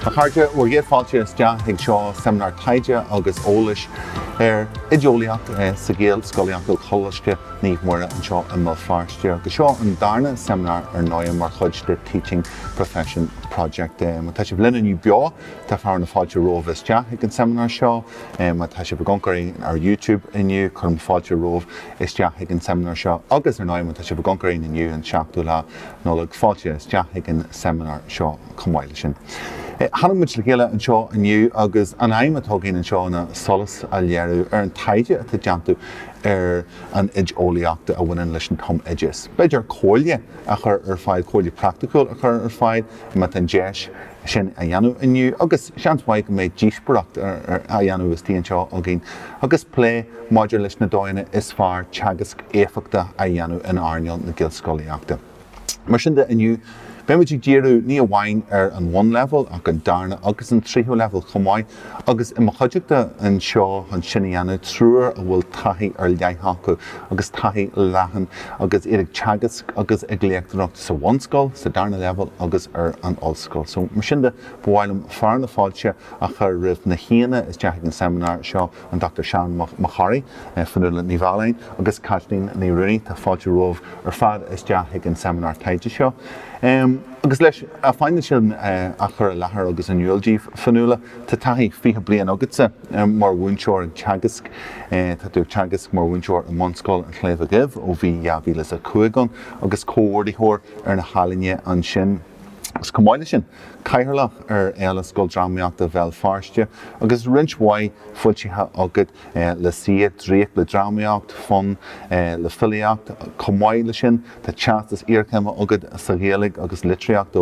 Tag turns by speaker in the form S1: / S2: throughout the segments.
S1: A chairde, bhur gcéad fáilte isteach ag seo seimineár taighde agus eolais ar oideolaíocht sa Ghaelscolaíocht ó Choláiste Naomh Muire anseo i mBéal Feirste agus seo an darna seimineár ar ndóigh mar chuid de Teaching Profession Project. Má tá sibh linn inniu beo, tá fearadh na fáilte romhaibh isteach ag an seimineár seo. Má tá sibh ag amharc air ar YouTube inniu, cuirim fáilte romhaibh isteach ag an seimineár seo agus, ar ndóigh, má tá sibh ag amharc air inniu, an 7ú lá Nollag, fáilte isteach ag an seimineár seo chomh maith leis sin. Tháinig muid le chéile anseo inniu agus an aidhm atá againn anseo ná solas a léiriú ar an taighde atá déanta ar an oideolaíocht a bhaineann leis an tumoideas. B'fhéidir comhairle a chur ar fáil, comhairle praiticiúil a chur ar fáil, má tá an deis, sin a dhéanamh inniu agus seans maith go mbeidh díospóireacht á dhéanamh istigh anseo againn agus plé maidir leis na dóigheanna is fearr teagasc éifeachtach a dhéanamh in earnáil na Gaelscolaíochta. Mar sin de, inniu, beidh muid ag díriú ní amháin ar an bhunleibhéal ach an darna agus an tríú leibhéal chomh maith. Agus i mo chuideachta anseo chun sin a dhéanamh, triúr a bhfuil taithí ar leith acu agus taithí leathan agus iad ag teagasc agus ag léachtóireacht sa bhunscoil, sa darna leibhéal agus ar an ollscoil. So, mar sin de, ba mhaith liom fearadh na fáilte a chur roimh na haíonna isteach chuig an seimineár seo, an Dr. Seán Mac Corraidh, Fionnuala Ní Mhealláin agus Caitlín Ní Ruanaidh. Tá fáilte romhaibh ar fad isteach chuig an seimineár taighde seo. agus leis an phainéal sin a chur i láthair agus in iúl daoibh. Fionnuala, Tá taithí 20 bliain agatsa mar mhúinteoir ag teagasc. Tá tú ag teagasc mar mhúinteoir i mBunscoil an tSléibhe Dhuibh ó bhí 2005 ann agus comhordaitheoir ar na healaíona ansin. Agus chomh maith leis sin, cathaoirleach ar Fhéile Scoildrámaíochta Bhéal Feirste agus roinnt mhaith foilsithe agat. le CCEA, Draíocht le Drámaíocht, Fonn le Filíocht. Chomh maith leis sin, tá teastas iarchéime agat sa Ghaeilge agus litríocht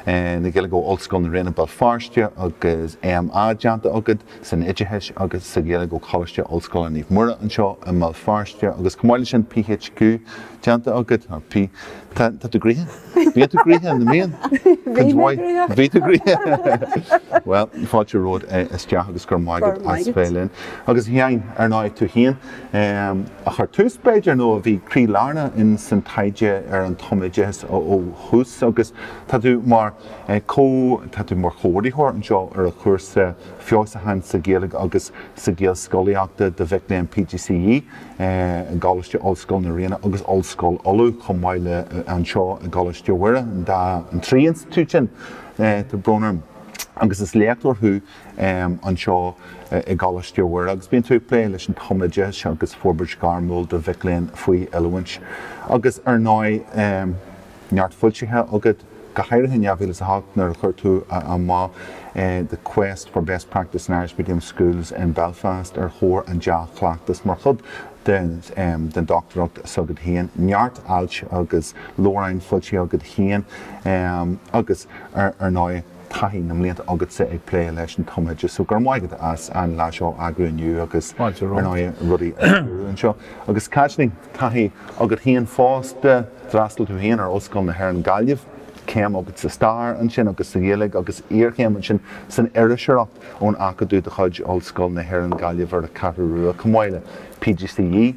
S1: na Gaeilge ó Ollscoil na Ríona Bhéal Feirste agus M.A. déanta agat san oideachais agus sa Ghaeilge ó Choláiste Ollscoile Naomh Muire anseo i mBéal Feirste agus chomh maith leis sin PHQ déanta agat, tá tú gnoitheach. Bhí tú gnoitheach na mblian. Bhí mé gnoitheach. Bhí tú gnoitheach. Bhuel, fáilte romhat isteach agus go raibh maith agat as bheith linn. Agus Sheáin, ar ndóigh, tú féin a chuir tús, b'fhéidir, nó a bhí croí lárnach ins an taighde ar an tumoideas ó thús agus tá tú mar comh, tá tú mar chomhordaitheoir anseo ar an chúrsa feabhsúcháin sa Ghaeilge agus sa Ghaelscolaíocht do mhic léinn PGCE. i gColáiste Ollscoile na Ríona agus Ollscoil Uladh, chomh maith le anseo i gColáiste Mhuire, an trí institiúid sin tá brón orm. Agus is léachtóir thú anseo i gColáiste Mhuire agus bíonn tú ag plé leis an tumoideachas agus forbairt ghairmiúil do mhic léinn faoi oiliúint. Agus ar ndóigh. neart foilsithe agat, go háirithe in 2008 nuair a chuir tú amach The Quest for Best Practice in Irish Medium Schools in Belfast ar thóir an dea-chleachtais mar chuid den dochtúireacht s'agat féin, neart ailt agus leabhráin foilsithe agat féin agus, ar ndóigh. taithí na mblianta agatsa ag plé leis an tumoideachas so gura maith agat as an lá seo a eagrú inniu agus ar ndóigh rudaí a stiúradh anseo. Agus Caitlín, taithí agat féin fosta, d'fhreastail tú féin ar Ollscoil na hÉireann Gaillimh, céim agat sa Stair ansin agus sa Ghaeilge agus iarchéim ansin san Iriseoireacht ón Acadamh de chuid Ollscoil na hÉireann Gaillimh ar an gCeathrú Rua, chomh maith le PGCE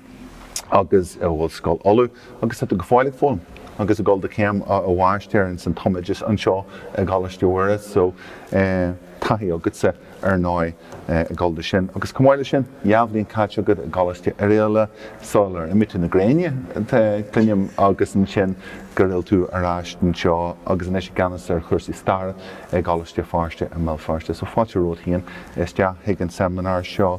S1: agus in Ollscoil Uladh. agus tá tú go fóill ag foghlaim agus ag gabháil do chéim mháistir ins an tumoideachas anseo i gColáiste Mhuire so taithí agatsa ar ndóigh ag gabháil dó sin agus chomh maith le sin dhá bhliain caite agat i gColáiste Oiriall sula r imigh tú chun na gréine cluinim agus ansin gur fhill tú ar ais anseo agus anois i gceannas ar chúrsaí staire i gColáiste Feirste i mBéal Feirste so fáilte romhat féin isteach chuig an seimineár seo.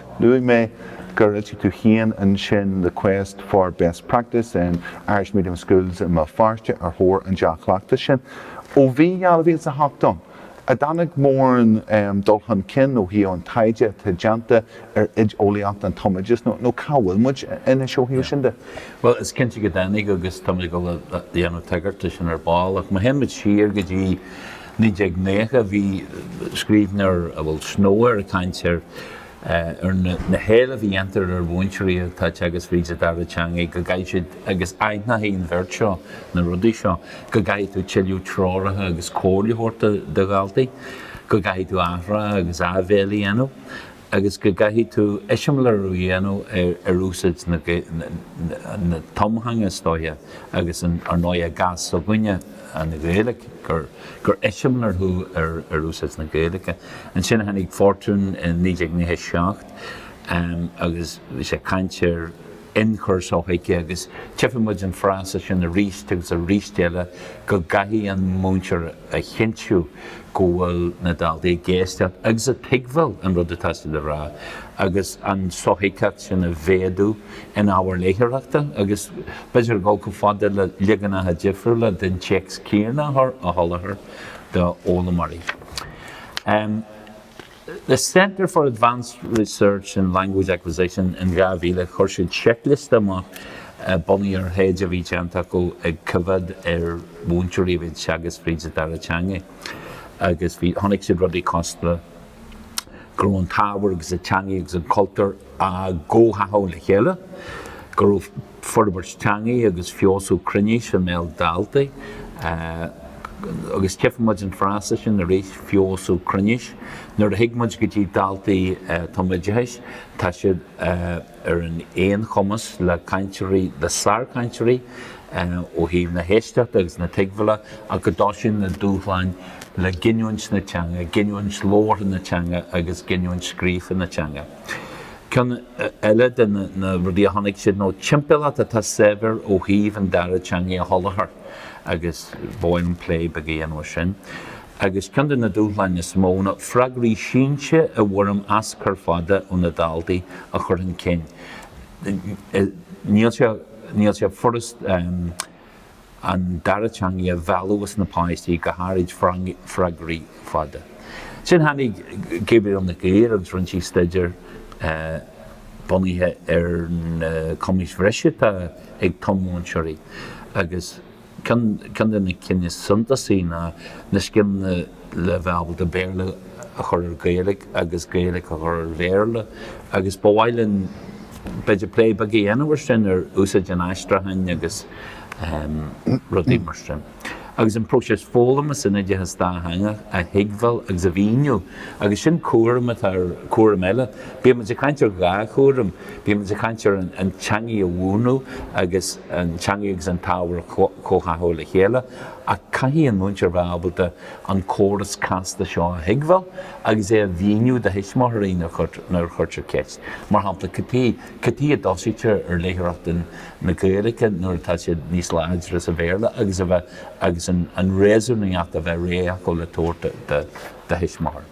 S1: Luaigh mé gur fhoilsigh tú féin ansin The Quest for Best Practice in Irish Medium Schools i mBéal Feirste ar thóir an dea-chleachtais sin. Ó bhí 2008 ann an dtáinig mórán dul chun cinn ó thaobh an taighde atá déanta ar oideolaíocht an tumoideachais nó cá bhfuil muid anois ó thaobh sin de? Bhuel, is cinnte go
S2: dtáinig agus táimid ag dul a dhéanamh tagairt dó sin ar ball ach má théann muid siar go dtí 1990, bhí scríbhneoir a bhfuil Snow air ag caint ar na héilimh a dhéantar ar mhúinteoirí atá ag teagasc fríd an dara teanga go gcaithfidh siad, agus aithneochaidh an bheirt seo na rudaí seo, go gcaithfidh tú tuilleadh treorach agus comhairle a thabhairt do dhaltaí, go gcaithfidh tú athrá agus áibhéil a dhéanamh. agus go gcaithfidh tú eiseamláir a dhéanamh ar úsáid na tumtheanga, is dóiche, agus ar ndóigh sa chás s'againne, an Ghaeilge, gur eiseamláir thú ar úsáid na Gaeilge. Ansin tháinig Fortune i 1997 agus bhí sé ag caint ar. ionchur sothuigthe agus tchífidh muid an frása sin arís agus arís eile go gcaithfidh an múinteoir a chinntiú go bhfuil na daltaí ag éisteacht agus ag tuigbheáil an rud atá siad a rá agus an sothuigtheacht sin a mhéadú in ábhar léitheoireachta agus b'fheidir dul chomh fada le leaganacha difriúla den téacs céanna a sholáthar do fhoghlaimeoirí. The Centre for Advanced Research in Language Acquisition in 2000, chuir siad checklist amach bunaithe ar thaighde a bhí déanta acu ag coimheád ar mhúinteoirí a bhí ag teagasc fríd an dara teanga agus bhí, chonaic siad rudaí cosúla, go raibh an t-ábhar agus an teanga agus an cultúr á gcomhtháthú le chéile, go raibh. forbairt teangaidh agus feabhsú cruinnis i mbéal daltaí agus tchifidh muid an frása sin arís, feabhsú cruinnis, nuair a thig muid go dtí daltaí tumoideachais, tá siad ar an aon chumas le cainteoirí, le sárchainteoirí ó thaobh na héisteachta agus na tuigbheála ach go dtoisíonn na dúshláin le giniúint na teanga, giniúint labhartha na teanga agus giniúint scríofa na teanga. Ceann eile de na rudaí a chonaic siad nó timpeallacht atá saibhir ó thaobh an dara teangaidh a sholáthar agus ba mhaith liom plé beag a dhéanamh ar sin. Agus ceann de na dúshláin is mó ná freagraí sínte i bhfoirm aschur fada ó na daltaí a chur chun cinn. Níl sé níl sé furast an dara teangaidh a mhealladh as na páistí go háirid freagraí fada. Ansin tháinig Gabrielle Nig Uidhir agus rinne sí staidéar bunaithe ar na cumais bhreise atá ag tum-mhúinteoirí agus ceann de na cinn is suntasaí ná na scileanna le bheith ábalta Béarla a chur ar Gaeilge agus Gaeilge a chur ar Bhéarla agus ba mhaith linn, b'fhéidir, plé beag a dhéanamh ar sin, ar úsáid an aistriúcháin agus rudaí mar sin. Agus an próiseas foghlama san oideachas dátheangach a thuigbheáil agus a mhíniú agus sin cúram atá ar, cúram eile. Bímid ag caint ar dhá chúram, bímid ag caint ar an teangaidh a mhúineadh agus an teangaidh agus an t-ábhar a chomhtháthú le chéile, ach caithfidh an múinteoir a bheith ábalta an córas casta seo a thuigbheáil agus é a mhíniú do thuismitheoirí nuair a chuirtear ceist, mar shampla, Cad chuige a dtosaítear ar léitheoireacht na Gaeilge nuair atá siad níos láidre sa Bhéarla? agus a bheith agus an réasúnaíocht a bheith réidh acu le tabhairt do thuismitheoir.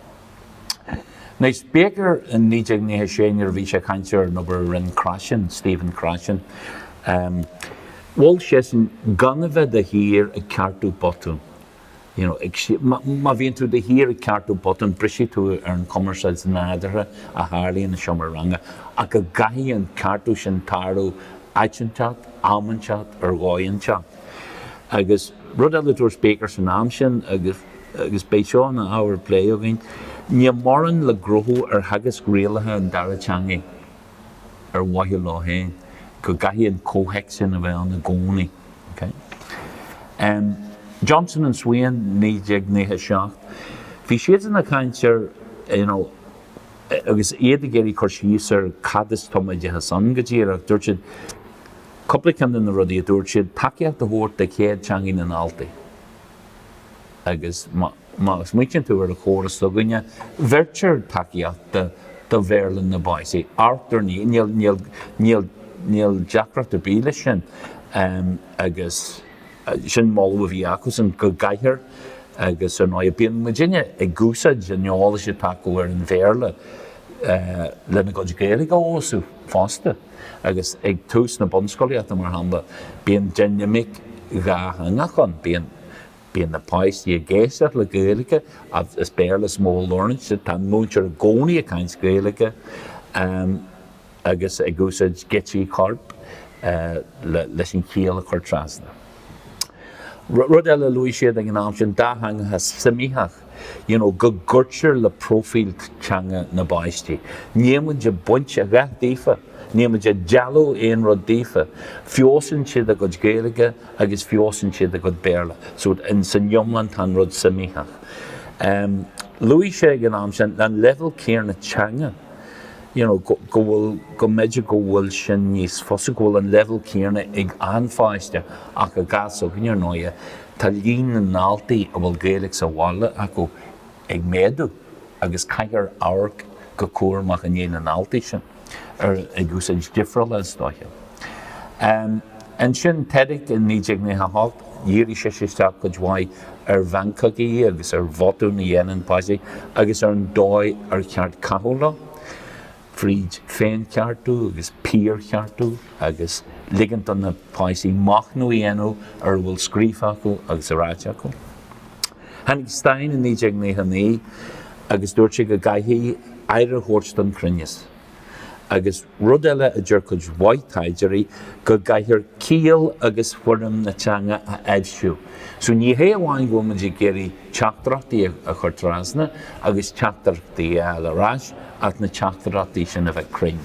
S2: Anois Baker in 1996 nuair a bhí sé ag caint ar an obair a rinne Krashen, Stephen Krashen. Mhol seisean gan a bheith de shíor ag ceartú botún. You know, ag, má bhíonn tú de shíor ag ceartú botún, brisfidh tú ar an chumarsáid nádúrtha a tharlaíonn i seomra ranga, ach go gcaithfidh an ceartú sin tarlú áit inteacht, am inteacht, ar dhóigh inteacht. Agus rud eile a dúirt Baker san am sin, agus. agus beidh seo ina ábhar plé againn, níl mórán le gnóthú ar theagasc rialaithe an dara teanga ar mhaithe leo féin, go gcaithfidh an comhthéacs sin a bheith ann i gcónaí. Johnson and Swain 1997. Bhí siadsan ag caint ar you know agus iad ag iarraidh cur síos ar cad is tumoideachas ann go díreach, dúirt siad cúpla ceann de na rudaí a dúirt siad, tacaíocht a thabhairt do chéad teanga na ndaltaí, agus má smaoitíonn tú ar an chóras s'againne, bheirtear tacaíocht do Bhéarla na bpáistí, ar ndóigh, níl deacracht ar bith leis sin agus sin moladh a bhí acusan go gcaithfear agus ar ndóigh bíonn muidinne ag úsáid an eolais atá acu ar an Bhéarla lena gcuid Gaeilge a fheabhsú fosta. agus ag tús na bunscolaíochta, mar shampla, bíonn dinimic dhátheangach ann, bíonn bíonn na páistí ag éisteacht le Gaeilge, is Béarla is mó a labhrann siad, tá an múinteoir i gcónaí ag caint Gaeilge agus ag úsáid geáitsí coirp leis an chiall a chur trasna. Rud eile a luaigh siad ag an am sin, dátheangachas suimitheach. you know, go gcuirtear le próifíl teanga na bpáistí. Nílimid ag baint a dhath daofa, nílimid ag dealú aon rud daofa. Feabhsaíonn siad a gcuid Gaeilge agus feabhsaíonn siad a gcuid Béarla. So, san iomlán tá an rud suimitheach. Luaigh siad ag an am sin an leibhéal céanna teanga, you know, go bhfuil, go mb'fhéidir go bhfuil sin níos fusa, go bhfuil an leibhéal céanna ag achan pháiste ach sa chás s'againne, ar ndóighe, Tá líon na ndaltaí a bhfuil Gaeilge sa bhaile acu ag méadú agus caithfear amharc go cúramach i ndiaidh na ndaltaí sin ar ag úsáid difriúla, is dóiche. Ansin, Tedick i 1998, dhírigh sise isteach cuid mhaith ar mheancógaí agus ar bhotúin a dhéanann páistí agus ar an dóigh ar cheart caitheamh leo. fríd féincheartú agus piarcheartú agus ligint do na páistí machnamh a dhéanamh ar a bhfuil scríofa acu agus ráite acu. Tháinig Stein i 1999 agus dúirt sé go gcaithfí aire a thabhairt don chruinneas. Agus rud eile a deir cuid mhaith taighdeoirí, go gcaithfear ciall agus foirm na teanga a aibhsiú. So ní hé amháin go bhfuil muid ag iarraidh, teachtaireachtaí a chur trasna agus teachtaireachtaí a fháil ar ais ach na teachtaireachtaí sin a bheith cruinn.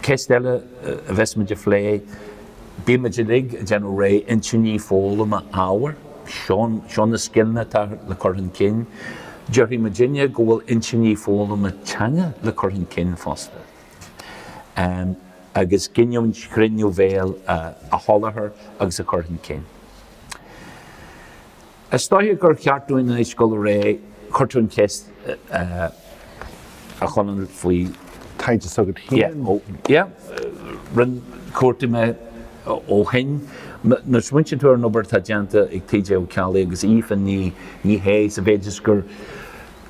S2: Ceist eile a bheas muid a phlé, bíonn muid uilig ag déanamh réidh intinní foghlama ábhair, seo na scileanna atá le cur chun cinn. Déarfaidh muid inniu go bhfuil intinní foghlama teanga le cur chun cinn fosta agus giniúint chruinn ó bhéal a sholáthar agus a chur chun cinn. Is dócha gur cheart dúinn anois dul i réidh. Chuir tú an cheist, a Chonaill, faoi thaighde s'agat
S1: féin. Yeah,
S2: rinne, chuartaigh mé ó shin. Nuair a smaointíonn tú ar an obair atá déanta ag TJ Ó Ceallaigh agus Aoife Ní Shé sa mhéid is gur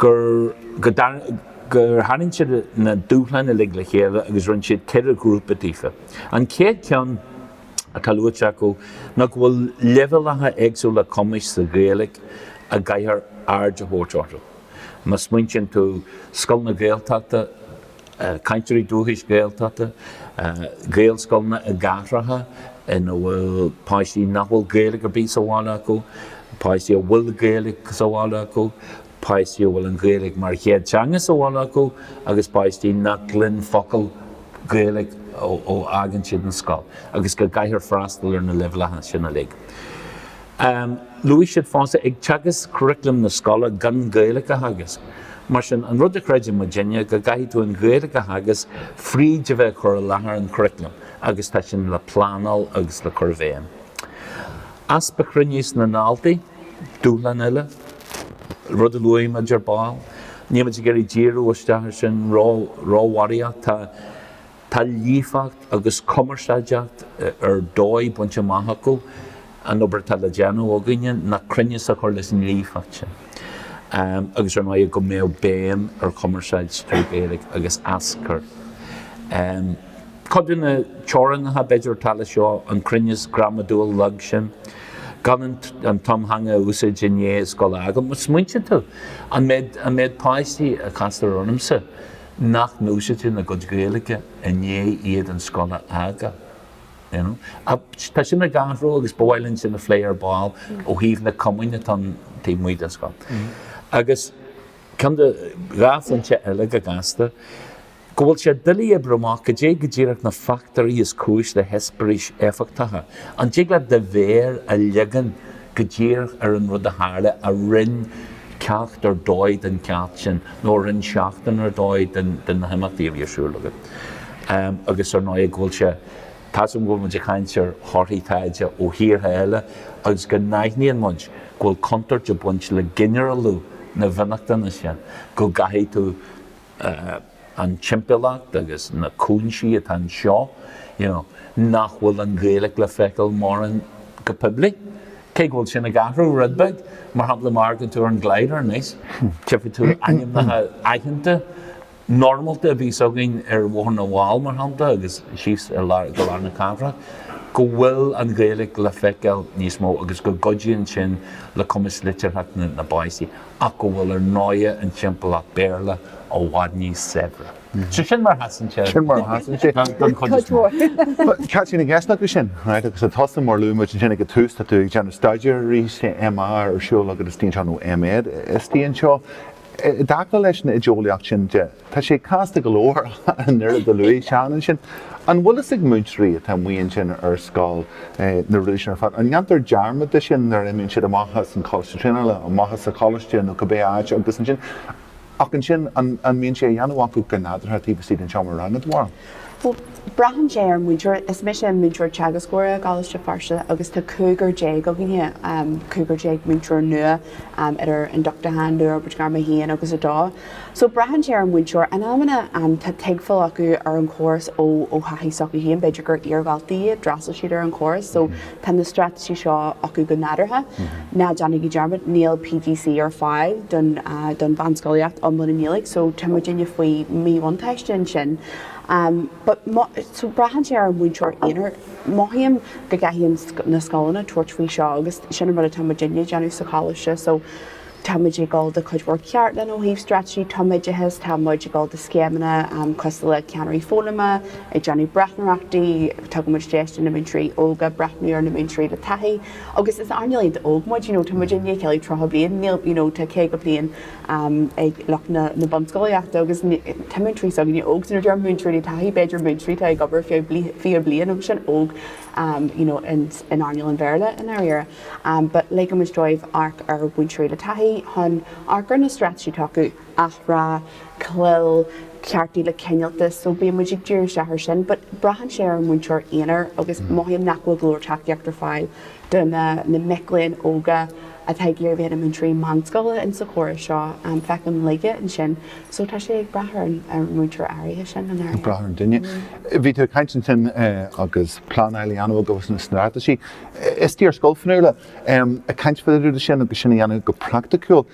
S2: tharraing siad na dúshláin uilig le chéile agus rinn siad ceithre ghrúpa daofa. An chéad cheann. atá luaite acu ná go bhfuil leibhéaltacha éagsúla cumais sa Ghaeilge a gcaithfear aird a thabhairt orthu. Má smaointíonn tú scoileanna Gaeltachta, cainteoirí dúchais Gaeltachta, Gaelscoileanna i gcathracha ina bhfuil páistí nach bhfuil Gaeilge ar bith sa bhaile acu, páistí a bhfuil Gaeilge sa bhaile acu, páistí a bhfuil an Ghaeilge mar chéad teanga sa bhaile acu agus páistí nach gcluin focal Gaeilge ó fhágann siad an scoil agus go gcaithfear freastal ar na leibhéaltacha sin uilig. Luaigh siad fosta ag teagasc curaclaim na scoile gan Gaeilge a theagasc. Mar sin, an rud a chreideann muidinne go gcaithfidh tú an Ghaeilge a theagasc fríd a bheith ag cur i láthair an churaclaim agus tá sin le pleanáil agus le cur i bhfeidhm. Easpa cruinnis na ndaltaí. Dúshlán eile, rud a luaigh muid ar ball, níl muid ag iarraidh díriú isteach ar sin róbharraíocht, tá tá líofacht agus cumarsáideacht ar dóigh bainte amach acu, an obair atá le déanamh againne ná cruinneas a chur leis an líofacht sin agus ar ndóigh go mbeadh béim ar chumarsáid trí Ghaeilge agus aschur. Cuid de na teorannacha, b'fhéidir, atá leis seo an cruinneas gramadúil lag sin, gan an tumtheanga a úsáid i ndiaidh scoile acu. Má smaointíonn tú, an méid páistí a castar ormsa nach n-úsáideann a gcuid Gaeilge i ndiaidh iad an scoil a fhágáil? You know? Tá sin ag athrú agus ba mhaith linn sin a phlé ar ball ó thaobh na cumainn atá taobh amuigh den scoil. Agus ceann nó dhá phointe eile go gasta, Go bhfuil sé doiligh oibriú amach cad é go díreach na fachtóirí is cúis le heispéiris éifeachtacha. An dtig leat do mhéar a leagan go díreach ar an rud a tharla a rinn ceacht ar dóigh den cheacht sin nó a rinn seachtain ar dóigh de na himeachtaí a bhí ar siúl agat? Agus ar ndóigh, go bhfuil sé tábhachtach go bhfuil muid ag caint ar thorthaí taighde ó thíortha eile agus go n-aithníonn muid go bhfuil contúirt ag baint le ginearálú na bhfionnachtana sin, go gcaithfidh tú. an timpeallacht agus na cúinsí atá anseo you know nach bhfuil an Ghaeilge le feiceáil mórán go poiblí, cé go bhfuil sin ag athrú rud beag, mar shampla má fhaigheann tú ar an Glider anois tchifidh tú ainmneacha aitheanta normálta a bhíos againn ar Bhóthar na bhFál mar shampla agus síos go lár na cathrach, go bhfuil an Ghaeilge le feiceáil níos mó agus go gcuidíonn sin le cumas liteartha na bpáistí. ach go bhfuil ar ndóigh an timpeallacht Béarla i bhfad níos saibhre. So sin mar a sheasann sé, Sin mar a sheasann sé.
S1: den
S2: chuid is mó. Cathain a gceisteanna
S1: tú sin? Right, agus tusa, mar a luaigh muid ansin ag an tús, tá tú ag déanamh staidéir arís, MA ar siúl agat istigh anseo nó MA istigh anseo. I dtaca leis an oideolaíocht sin de, Tá sé casta go leor an rud a luaigh Seán ansin. An bhfuil fhios ag múinteoirí atá amuigh ansin ar scoil na rudaí sin ar fad? An ndéantar dearmad de sin nuair a imíonn siad amach as an Choláiste Traenála, amach as an choláiste nó cibé áit agus ansin, ach ansin an mbíonn sé á dhéanamh acu go nádúrtha taobh istigh den seomra ranga, do
S3: bharúil? Bhuel, braitheann sé ar an múinteoir. Is mise an múinteoir teagascóra i gColáiste Feirste agus tá cúigear déag againne, cúigear déag múinteoir nua idir ionduchtú agus, Luathfhorbairt Gairme 1 agus 2. So braitheann sé ar an múinteoir. In amanna tá tuigbheáil acu ar an chóras ó thaithí s'acu féin, b'fhéidir gur iar-dhaltaí iad, d'fhreastail siad ar an chóras so tá na straitéisí seo acu go nádúrtha. Ná déanaigí dearmad, níl PGCE ar fáil don mheánscolaíocht iomlán i nGaeilge so tá muidinne faoi mhíbhuntáiste ansin. But so braitheann sé ar an múinteoir aonair. Mothaím go gcaithfidh na scoileanna tabhairt faoi seo agus sin an rud atá muidinne ag déanamh sa choláiste so tá muid ag gabháil de chuid mhór ceardlann ó thaobh straitéisí tumoideachais, tá muid ag gabháil de scéimeanna cosúil le Ceannairí Foghlama, ag déanamh breathnóireachtaí, tugann muid deis do na múinteoirí óga breathnú ar na múinteoirí le taithí agus is earnáil iontach óg muid, you know tá muid i ndiaidh ceiliúradh 30 bliain, níl, you know tá 50 bliain ag lucht na bunscolaíochta agus tá múinteoirí s'againne óg, so nuair a deirim múinteoirí le taithí, b'fhéidir múinteoirí atá ag obair ar feadh 20 bliain agus sin óg, you know in earnáil an Bhéarla i ndáiríre. but ligeann muid dóibh amharc ar mhúinteoirí le taithí chun amharc ar na straitéisí tacú, athrá, clil, ceartú le cineáltas, so bíonn muid ag díriú isteach ar sin but braitheann sé ar an múinteoir aonair agus mothaím nach bhfuil go leor tacaíocht ar fáil do na na mic léinn óga atá ag iarraidh bheith ina múinteoirí meánscoile in sa chóras seo, feicim laige ansin so tá sé ag brath ar an múinteoir áirithe sin i ndáiríre. Ag brath ar an duine.
S1: Bhí tú ag caint ansin agus pleanáil a dhéanamh agus na straitéisí. Is tú ar scoil Fionnuala ag caint fá dtaobh de sin agus sin a dhéanamh go praiticiúil.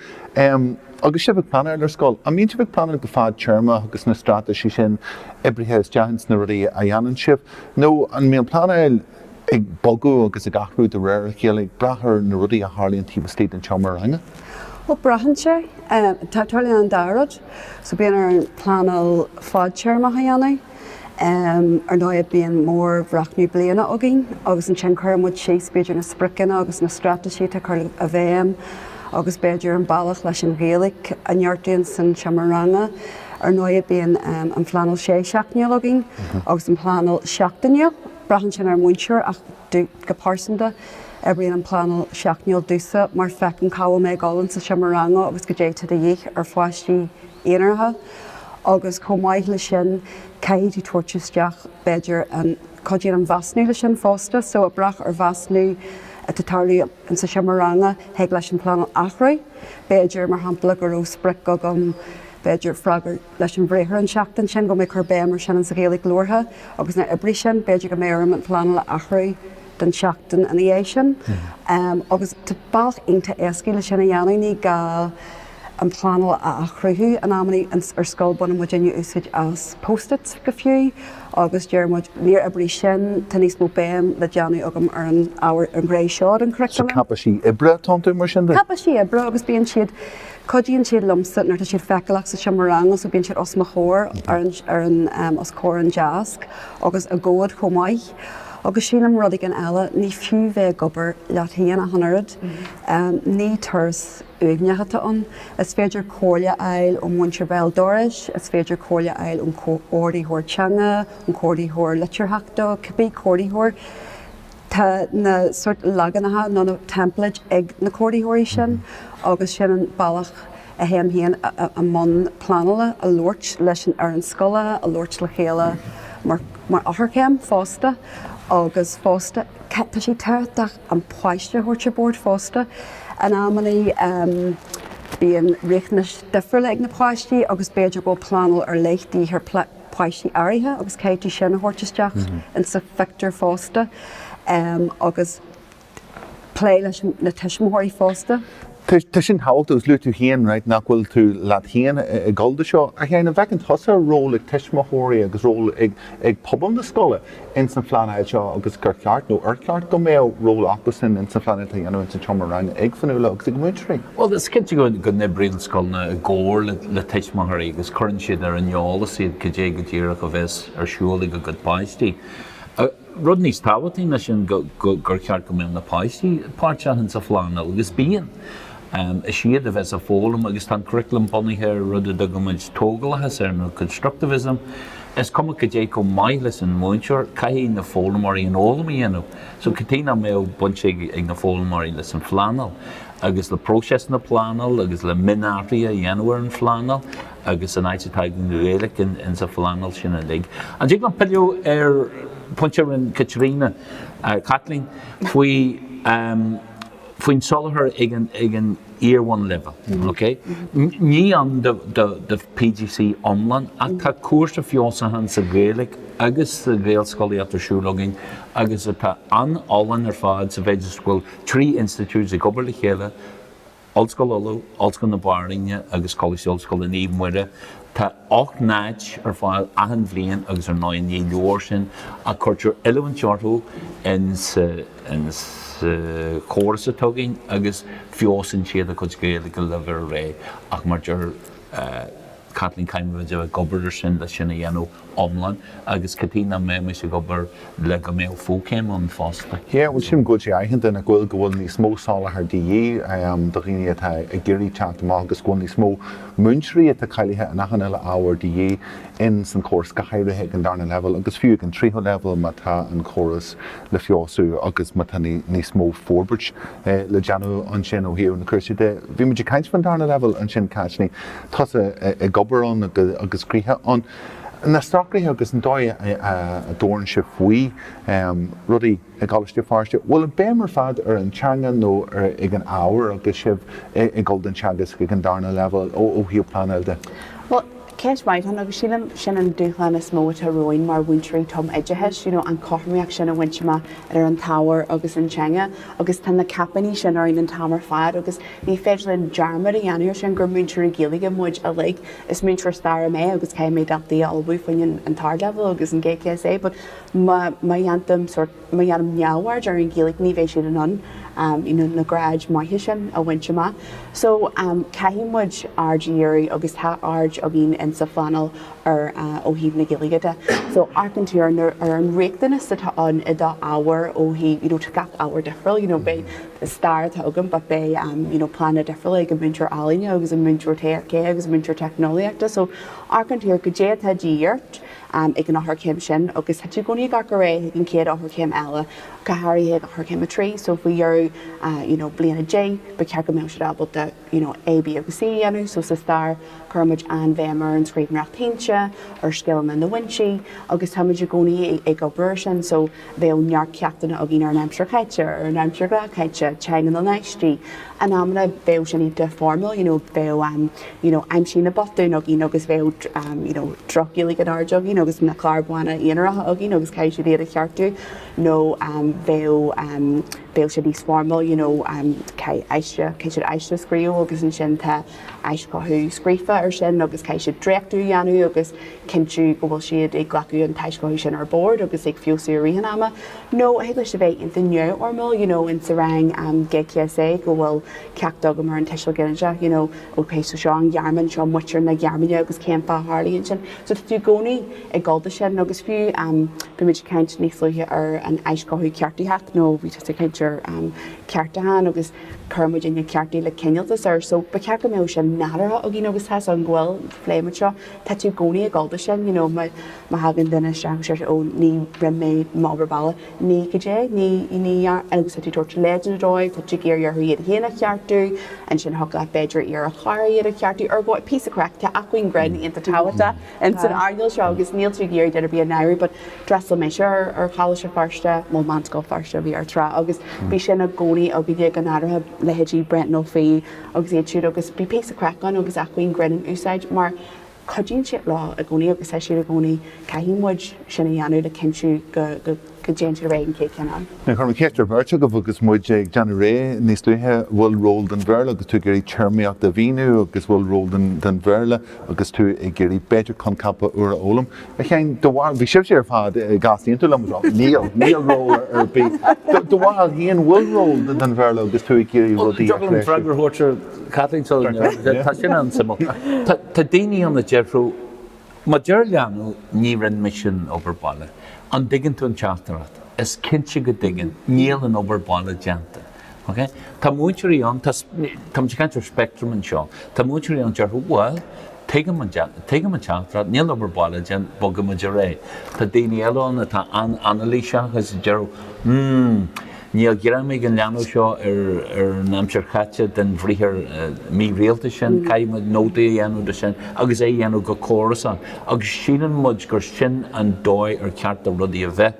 S1: Agus sibh ag pleanáil ar scoil, an mbíonn sibh ag pleanáil go fadtéarmach agus na straitéisí sin oibrithe isteach ins na rudaí a dhéanann sibh nó an mbíonn pleanáil ag bogadh agus ag athrú de réir a chéile ag brath ar na rudaí a tharlaíonn taobh istigh den tseomra ranga? Bhuel, braitheann
S4: sé. Tarlaíonn an dá rud. So bíonn orainn pleanáil fadtéarmach a dhéanamh. Ar ndóigh, bíonn mórbhreathnú bliana againn agus ansin cuireann muid síos b'fhéidir na spriocanna agus na straitéisí atá á gcur i bhfeidhm agus b'fhéidir an bealach leis an Ghaeilge a neartú ins an seomra ranga. Ar ndóigh, bíonn an phleanáil sé seachtainiúil againn agus an phleanáil seachtainiúil. Braitheann sin ar an múinteoir ach go pearsanta, oibríonn an phleanáil seachtainiúil domhsa mar feicim cá bhfuil mé ag dul ins an seomra ranga agus cad é atá de dhíth ar pháistí aonaracha. agus chomh maith leis sin caithfidh tú tabhairt isteach b'fhéidir an, cad é an measúnú leis sin fosta, so ag brath ar an mheasúnú atá ag tarlú ins an seomra ranga, thig leis an pleanáil athrú, b'fhéidir mar shampla go raibh sprioc agam b'fhéidir freagairt leis an bhriathar an tseachtain sin, go mbeidh mé ag cur béim ar sin ins an Ghaeilge labhartha agus níor oibrigh sin, b'fhéidir go mbeidh orm an pleanáil a athrú don tseachtain ina dhiaidh sin, agus tá bealach iontach éascaí le sin a dhéanamh, ní gá. an pleanáil a athchruthú in amannaí ar scoil baineann muidinne úsáid as post-its go fiú agus deir muid 'níor oibrigh sin, tá níos mó béim le déanamh agam ar an ábhar an ghné seo den churaclam'. So cáipéisí oibre
S1: atá iontu mar sin? Cáipéisí oibre agus
S4: bíonn siad, cuidíonn siad liomsa nuair atá siad feiceálach sa seomra ranga so bíonn siad os mo chomhair ar an, os comhair an deasc agus i gcomhad chomh maith. Agus sílim rud éigin eile, ní fiú bheith ag obair leat féin ach an oiread. Ní turas uaigneach atá ann. Is féidir comhairle a fháil ón mhúinteoir béal dorais, is féidir comhairle a fháil ón Chomhordaitheoir Teanga, ón Chomhordaitheoir Litearthachta, cibé comhordaitheoir. Tá na sórt leaganacha nó na templates ag na comhordaitheoirí sin agus sin an bealach. a théim féin i mbun pleanála, ag labhairt leis an fhoireann scoile, ag labhairt le chéile mar eochairchéim fosta agus fosta tá sé tábhachtach an páiste a thabhairt ar bord fosta. In amannaí bíonn riachtanais difriúla ag na páistí agus b'fhéidir go bhfuil pleanáil ar leith de dhíth ar pháistí áirithe agus caithfidh tú sin a thabhairt isteach insa phictiúr fosta agus. Plé leis na tuismitheoirí
S1: fosta. Tá sin tábhachtach agus luaigh tú féin nach bhfuil tú leat féin ag gabháil dó seo. A Sheáin, an bhfeiceann tusa ról ag tuismitheoirí agus ról ag pobal na scoile in san phleanáil seo agus gur cheart nó ar cheart go mbeadh ról acu san in san phleanáil atá á dhéanamh in san tseomra ranga ag Fionnuala agus ag múinteoirí? Bhuel, is
S2: cinnte go n-oibríonn scoileanna i gcomhar le tuismitheoirí agus cuireann siad ar an eolas iad cad é go díreach a bheas ar siúl ag a gcuid páistí. Rud níos tábhachtaí ná sin gur cheart go mbeadh na páistí páirteach insa phleanáil, agus bíonn. Is iad a bheas ag foghlaim agus tá an curaclam bunaithe ar rud a dtugaimid tógalachas air nó constructivism. Is cuma cad é chomh maith leis an múinteoir, caithfidh na foghlaimeoirí an fhoghlaim a dhéanamh. So cad chuige nach mbeadh baint ag na foghlaimeoirí leis an phleanáil agus le próiseas na pleanála agus le mionathruithe a dhéanamh ar an phleanáil? agus an áit atá ag an nGaeilge ins an phleanáil sin uilig. An dtig liom pilleadh ar phointe a rinne Caitríona, Caitlín, faoi, faoin soláthar ag an, ag an iar-bhunleibhéal, OK? Ní ann do, do, do PGCE iomlán ach tá cúrsa feabhsúcháin sa Ghaeilge agus sa Ghaelscolaíocht ar siúl againn agus atá an-fholláin ar fad sa mhéid is go bhfuil trí institiúid ag obair le chéile, Ollscoil Uladh, Ollscoil na Banríona agus Coláiste Ollscoile Naomh Muire. Tá ocht n-áit ar fáil achan bhliain agus ar ndóigh ní leor sin ach cuirtear oiliúint orthu insa chóras atá againn agus feabhsaíonn siad a gcuid Gaeilge go leibhéal áirithe ach mar deir Caitlín caithfimid a bheith ag obair ar sin leis sin a dhéanamh iomlán agus cad chuige nach mbeimis ag obair le go mbeadh fóchéim ann fosta. Yeah, bhuel sílim go bhfuil
S1: sé aitheanta nach bhfuil, go bhfuil níos mó soláthar de dhíth do dhaoine atá ag iarraidh teacht amach agus go bhfuil níos mó múinteoirí atá cáilithe in achan uile ábhar de dhíth in san chóras, go háirithe ag an darna leibhéal agus fiú ag an tríú leibhéal má tá an córas le feabhsú agus má tá níos mó forbairt le déanamh ansin ó thaobh na cúrsaí de. Bhí muid ag caint faoin darna leibhéal ansin Caitlín. tusa ag obair ann agus gcroíthe ann, na socruithe agus an dóigh a dtabharann sibh faoi rudaí i gColáiste Feirste, bhfuil an béim ar fad ar an teanga nó ag an ábhar agus sibh ag dul don teagasc agus ag an darna leibhéal ó thaobh pleanáil de? Bhuel,
S3: ceist mhaith ann agus sílim sin an dúshlán is mó atá romhainn mar mhúinteoirí tum-oideachais, you know an cothromaíocht sin a bhaint amach idir an t-ábhar agus an teanga agus tá na caipíní sin orainn an t-am ar fad agus Ní féidir linn dearmad a dhéanamh ar sin, gur múinteoirí Gaeilge muid uilig. Is múinteoir staire mé agus caithfidh mé daltaí a ullmhú faoin an t-ardleibhéal agus an GCSE but má dhéantaim sort, má dhéanaim neamhaird ar an Ghaeilge ní bheidh siad in ann you know na gráid maithe sin a bhaint amach. So caithfidh muid aird a dhíriú agus tá aird againn in sa phleanáil ar ó thaobh na Gaeilge de. So amharcann tú ar na ar an riachtanas atá ann i do ábhar ó thaobh you know tá gach ábhar difriúil you know beidh Is stair atá agam but beidh you know pleananna difriúla ag an múinteoir ealaíne agus an múinteoir TFC agus an múinteoir teicneolaíochta so amharcann tú ar cad é atá de dhíth ort ag an eochairchéim sin agus tá tú i gcónaí ag amharc ar aghaidh ag an chéad eochairchéim eile go háirithe ag eochairchéim a trí so faoi dheireadh you know bliain a deich ba cheart go mbeadh siad ábalta you know A, B agus C a dhéanamh so sa stair cuirimid an-bhéim ar an scríbhneoireacht shínte, ar scileanna na bhfoinsí agus táimid i gcónaí ag obair ar sin so Bheadh neart ceachtanna againn ar an aimsir chaite, ar an aimsir ghnáthchaite, teanga na n-aistí. In amanna bheadh sin iad de formal, you know, bheadh an, you know, aimsigh na botúin againn agus bheadh, you know, droch-Ghaeilge in airde againn agus na cláir bhána aonaracha againn agus caithfidh siad iad a cheartú nó bheadh, bheadh sé níos formal, you know, caithfidh aiste, caithfidh siad aiste a scríobh agus ansin tá, aischothú scríofa air sin agus caithfidh siad dréachtú a dhéanamh agus cinntiú go bhfuil siad ag glacadh an t-aischothú sin ar bord agus ag feabhsú i rith an ama nó thig leis a bheith iontach neamhfhoirmiúil you know in sa rang GCSE go bhfuil ceacht agam ar an tuiseal ginideach you know ok so seo an Ghearmáin seo muintir na Gearmáine agus cén fáth a tharlaíonn sin so tá tú i gcónaí ag gabháil dó sin agus fiú um, bhí muid ag caint níos luaithe ar an aischothú ceartaitheach nó bhí tú ag caint ar um, ceartúchán agus Chuir muidne ceartú le cineáltas air so ba cheart go mbeadh sin nádúrtha againn agus tá's agam go bhfuil, phléigh muid seo, tá tú i gcónaí ag gabháil dó sin you know má thagann duine isteach agus deir sé oh ní, rinne mé m'obair bhaile, ní, goidé, ní, you ní dhear agus tá tú ag tabhairt leideanna dóibh, tá tú ag iarraidh orthu iad féin a cheartú, ansin thiocfadh leat b'fhéidir iarraidh ar chara iad a cheartú, ar ndóigh píosa craic, tá acmhainn grinn, iontach tábhachtach. in san earnáil seo agus níl tú ag iarraidh duine ar bith a náiriú but d'fhreastail mise ar Choláiste Feirste, bhuel Meánscoil Feirste a bhí air tráth agus bhí sin i gcónaí againne go háirithe leithéidí Brendan Ó Fiaich agus iad siúd agus bhí píosa craic ann agus acmhainn grinn in úsáid mar cuidíonn sé leo i gcónaí agus tá siad i gcónaí caithfidh muid sin a dhéanamh le cinntiú go go ndéantar réidh an chéad cheann ann. Now chuir mé ceist ar
S1: bheirt agaibh agus muid ag déanamh réidh níos luaithe, an bhfuil ról don Bhéarla agus tú ag iarraidh téarmaíocht a mhíniú agus an bhfuil ról don Bhéarla agus tú ag iarraidh b'fhéidir coincheapa úra a fhoghlaim? A Sheáin, do bharúil, bhí sibhse ar fad ag easaontú liom go raibh, níl, níl ról ar bith. Do bharúil a Sheáin, bhfuil ról don Bhéarla agus tú ag iarraidh rudaí a
S2: threisiú? Dtig liom freagra a thabhairt air Kathleen tá sin an-suimiúil. Tá daoine ann a déarfadh, Má deir leanbh, 'Ní rinn mise an obair baile', an dtuigeann tú an teachtaireacht? Is cinnte go dtuigeann. Níl an obair baile déanta. Ok? Tá múinteoirí ann, tá, táimid ag caint ar spectrum anseo, tá múinteoirí ann a déarfadh, 'Bhuel, tuigim an, tuigim an teachtaireacht, níl an obair baile déanta, bogfaimid ar aghaidh'. Tá daoine eile ann atá an-anailíseach agus a déarfadh, 'Hmm, Níl greim ag an leanbh seo ar an aimsir chaite den bhriathar mírialta sin. Caithfidh muid nóta a dhéanamh de sin agus é a dhéanamh go córasach agus síleann muid gur sin an dóigh ar cheart do rudaí a bheith.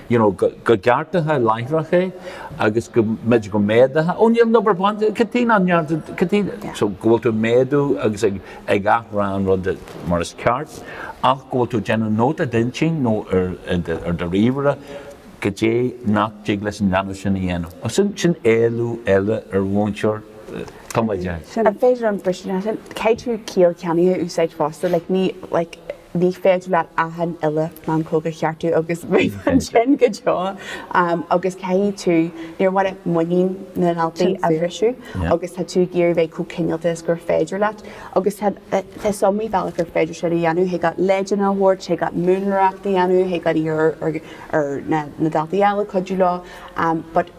S2: You know, go gceartófá láithreach é agus go mb'fhéidir go méadófá, oh níl an obair baile déanta, cad chuige nach ndearna, cad chuige, so go bhfuil tú ag méadú agus ag athrá an rud mar is ceart ach go bhfuil tú ag déanamh nóta i d'intinn nó ar do ríomhaire, Goidé nach dtig leis an leanbh sin a dhéanamh? Ach sin, sin éileamh eile ar mhúinteoir, tumoideachais, an féidir
S3: liom briseadh leis sin? Caithfidh tú ciall cheannaithe a úsáid fosta, like ní, like ní féidir leat achan uile mheancóg a cheartú agus bheith ansin go deo agus caithfidh tú, níor mhaith leat muinín na ndaltaí a bhriseadh agus tá tú ag iarraidh bheith chomh cineálta is gur féidir leat agus tá, tá so many bealach ar féidir sin a dhéanamh, thig leat leideanna a thabhairt, thig leat múnlaireacht a dhéanamh, thig leat iarraidh ar ar na daltaí eile cuidiú leo but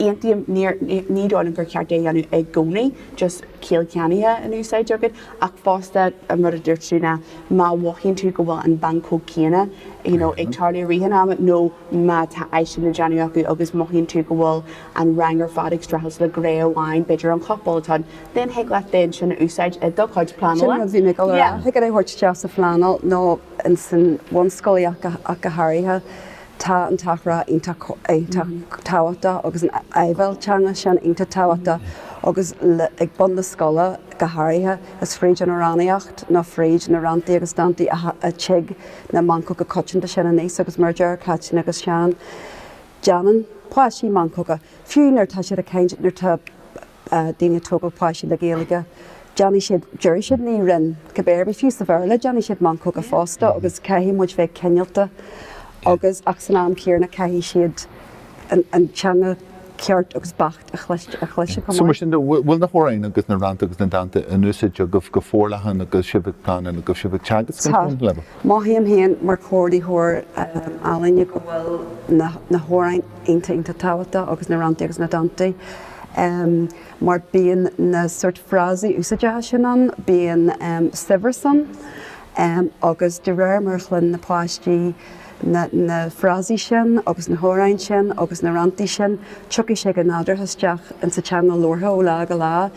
S3: aontaím ní dóigh liom gur cheart é a dhéanamh i gcónaí just ciall cheannaithe in úsáid agat ach fosta an rud a dúirt tú ná má mhothaíonn tú go bhfuil an mheancóg céanna you know ag tarlú i rith an ama nó má tá aiste le déanamh acu agus mothaíonn tú go bhfuil an rang ar fad ag streachailt le gné amháin b'fhéidir an chopail atá then thig leat then sin a úsáid i do chuid pleanála sin rud bhí mé ag dul a rá thig é
S4: a thabhairt isteach sa phleanáil nó san bhunscolaíocht ach go háirithe. Tá an t-athrá iontach tábhachtach agus an áibhéil teanga sin iontach tábhachtach agus ag bun na scoile go háirithe. Is fríd an amhránaíocht nó fríd na ranntaí agus dántaí a tig na meancóga coitianta sin aníos agus mar a deir Cáitín agus Seán, déanann páistí meancóga fiú nuair atá siad ag caint, nuair atá. daoine ag tógáil páistí le Gaeilge, déanfaidh siad, déarfaidh siad ní rinn, cibé ar bith, fiú sa Bhéarla, déanfaidh siad meancóga fosta agus caithfidh muid bheith cineálta agus, ach san am chéanna, caithfidh siad an teanga ceart agus beacht a chloisteadh chomh maith. So mar sin de,
S1: bhfuil na hamhráin agus na rannta agus na dánta in úsáid agaibh go forleathan agus sibh ag pleanáil agus sibh ag teagasc an Tá. Chomhairle leo? Mothaím féin
S4: mar chomhordaitheoir ealaíne go bhfuil na hamhráin iontach, iontach tábhachtach agus na ranntaí agus na dántaí. mar bíonn na sórt frásaí úsáideacha sin ann, bíonn saibhreas ann agus de réir mar a chluin na páistí na frásaí sin agus na hamhráin sin agus na ranntaí sin tiocfaidh sé go nádúrtha isteach insa teanga labhartha ó lá go lá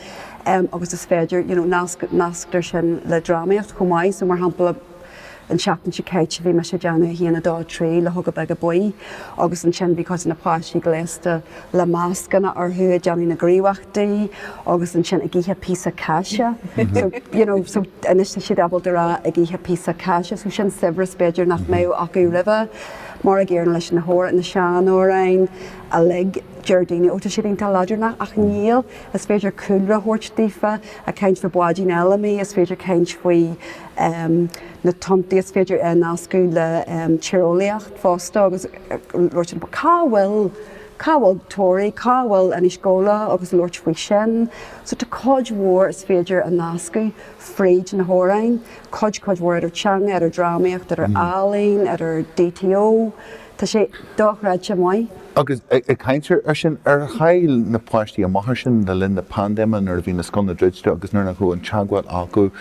S4: agus is féidir, you know, nasctar sin le drámaíocht chomh maith so mar shampla. An tseachtain seo caite bhí mise ag déanamh a haon a dó a trí luchóga beaga buí agus ansin bhí cuid de na páistí gléasta le mascanna orthu ag déanamh na gníomhaíochtaí agus ansin ag ithe píosa cáise so you know so anois tá siad ábalta a rá ag ithe píosa cáise so sin saibhreas b'fhéidir nach mbeadh acu roimhe mar an gcéanna leis na hamhr na seanamhráin uilig deir daoine ó tá siad iontach leadránach ach níl is féidir cúlra a thabhairt daofa Ag caint faoi Báidín Fheilimí, is féidir caint faoi na tonntaí is féidir a nascadh le tíreolaíocht fosta agus labhairt faoi cá bhfuil, cá bhfuil Toraigh, cá bhfuil Inis Gabhla agus labhairt faoi sin. So tá cuid mhór is féidir a nascadh fríd na hamhráin, cuid, cuid mhór idir teanga, idir drámaíocht, idir ealaín, idir DTO. Tá sé dochreidte maith. Agus ag
S1: caint ar sin, ar chaill na páistí amach air sin le linn na paindéime nuair a bhí na scoileanna druidte agus nuair nach raibh an teagmháil acu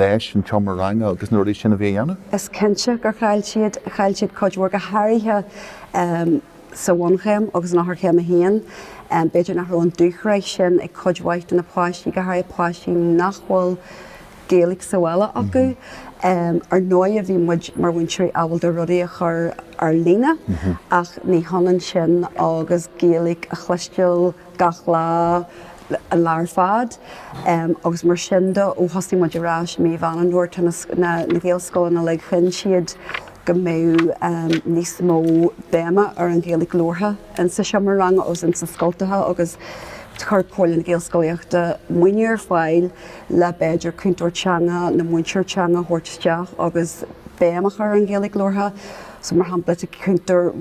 S1: leis an tseomra ranga agus na rudaí sin a bhí a dhéanamh? Is cinnte
S4: gur chaill siad. Chaill siad cuid mhór, go háirithe sa bhunchéim agus in Eochairchéim 1. B'fhéidir nach raibh an dúshraith sin ag cuid mhaith de na páistí, go háirithe páistí nach bhfuil Gaeilge sa bhaile acu. Ar ndóighe, bhí muid mar mhúinteoirí ábalta a rudaí a chur ar líne ach ní hionann sin agus Gaeilge a chloisteáil gach lá, an lá ar fad. Agus mar sin de, ó thosaigh muid ar ais mí Mheán Fhómhair, tá na Gaelscoileanna uilig, chinn siad go mbeadh níos mó béime ar an Ghaeilge labhartha ins sa seomra ranga agus ins na scoilteacha agus chuir Comhairle na Gaelscolaíochta maoiniú ar fáil le b'fhéidir cúntóir teanga nó múinteoir teanga a thabhairt isteach agus béim a chur ar an Ghaeilge labhartha. So mar shampla tá cúntóir,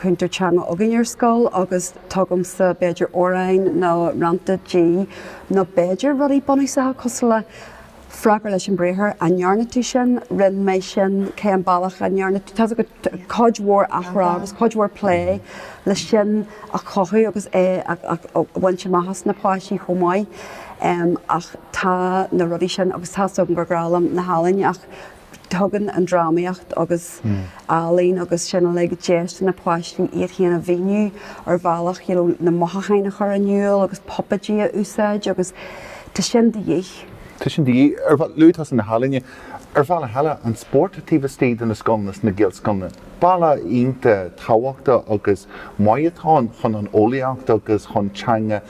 S4: cúntóir teanga againn ar scoil agus tugaimse b'fhéidir amhráin nó rannta di nó b'fhéidir rudaí bunúsacha cosúil le freagair leis an mbriathar, an ndearna tú sin, rinne mé sin, cén bealach a ndearna tú, cuid mhór athrá agus cuid mhór plé le sin a chothú agus é a bhaint amach as na páistí chomh maith. Ach tá na rudaí sin agus tá's agam gur grá liom na healaíne ach tugann an drámaíocht agus ealaín agus sin uilig deis do na páistí iad féin a mhíniú ar bhealach you know na mothúcháin a chur in iúl agus puipéid a úsáid agus tá sin de dhíth. Tá sin de dhíth.
S1: Luaigh tusa na healaíne. Ar bhealach eile, an spórt taobh istigh de na scoileanna sna Gaelscoileanna, bealach iontach tábhachtach agus maith atá ann chun an eolaíocht agus chun teanga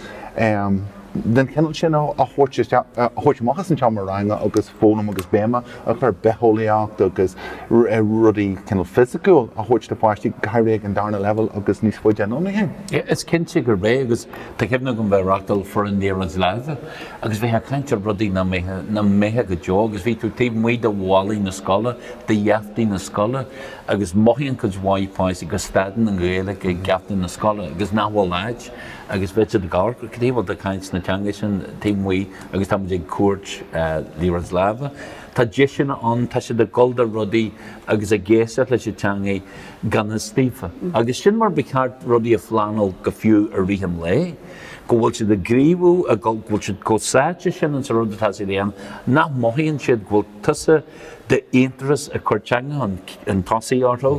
S1: den chineál sin a thabhairt isteach, a thabhairt amach as an tseomra ranga agus foghlaim agus béim a chur ar bhitheolaíocht agus rudaí cineál fisiciúil a thabhairt do pháistí, go háirithe ag an darna leibhéal agus níos faide anonn. Is cinnte gurb
S2: é agus Tá cuimhne agam bheith ag reáchtáil foireann Liathróid Láimhe agus bheith ag caint ar rudaí nach mbeifeá go deo agus bhí tú taobh amuigh de bhallaí na scoile, de gheaftaí na scoile agus mothaíonn cuid mhaith páistí go stadann an Ghaeilge ag geafta na scoile agus nach bhfuil áit agus bheadh siad ag amharc cad chuige a bhfuil tú ag caint na teanga sin taobh amuigh agus tá muid ag cúirt Liathróid Láimhe. Tá deiseanna ann, tá siad ag gabháil do rudaí agus ag éisteacht leis an teanga. i ngan fhios daofa, agus sin mar ba cheart rudaí a phleanáil go fiú i rith an lae, go bhfuil siad ag gníomhú, go bhfuil siad chomh sáite sin ins an rud atá siad a dhéanamh nach mothaíonn siad go bhfuil tusa d'aonturas ag cur teanga chun tosaigh orthu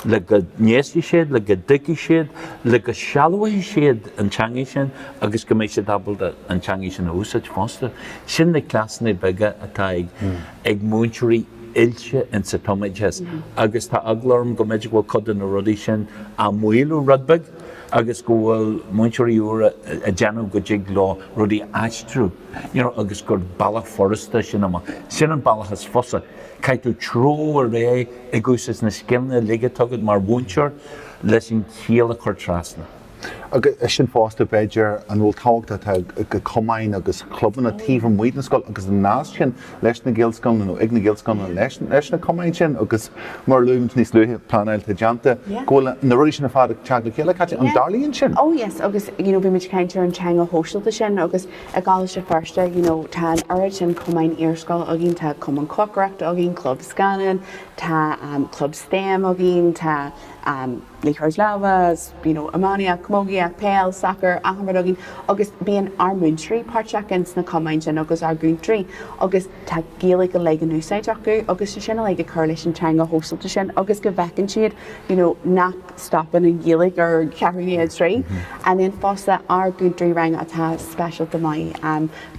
S2: le go n-éistfidh siad, le go dtuigfidh siad, le go sealbhóidh siad an teanga sin agus go mbeidh siad ábalta an teanga sin a úsáid fosta. Sin na cleasanna beaga atá ag múinteoirí. oilte ins a' tumoideas agus tá eagla orm go mb'fhéidir go bhfuil cuid de na rudaí sin á maolú rud beag agus go bhfuil múinteoirí úra a' déanamh go dtig leo rudaí a aistriú you know agus gur bealach furasta é sin amach. Sin an bealach is fusa. Caithfidh tú treabhadh ar aghaidh ag úsáid na scileanna uilig atá agat mar mhúinteoir leis an chiall a chur trasna. Agus
S1: sin fosta, b'fhéidir, an bhfuil tábhacht atá ag cumainn agus clubanna taobh amuigh den scoil agus an nasc sin leis na Gaelscoileanna nó ag na Gaelscoileanna leis leis na cumainn sin agus mar a luaigh muid níos luaithe pleanáil atá déanta go bhfuil na rudaí sin ar fad ag teacht le chéile. Cáit, An dtarlaíonn sin? Oh yes agus you
S3: know bhí muid ag caint ar an teanga shóisialta sin agus i gColáiste Feirste you know tá an oiread sin cumainn iarscoile againn, tá cumann cócaireachta againn, club scannáin, tá club stem againn, tá Liathróid láimhe, you know, iománaíocht, camógaíocht, peil, sacar, achan rud againn agus bíonn ár múinteoirí páirteach insna cumainn sin agus ár gcúntóirí agus tá Gaeilge uilig in úsáid acu agus sin uilig ag cur leis an teanga shóisialta sin agus go bhfeiceann siad, you know, nach stopann an Ghaeilge ar cheathrú i ndiaidh a trí. And then fosta ár gcúntóirí ranga atá speisialta maith,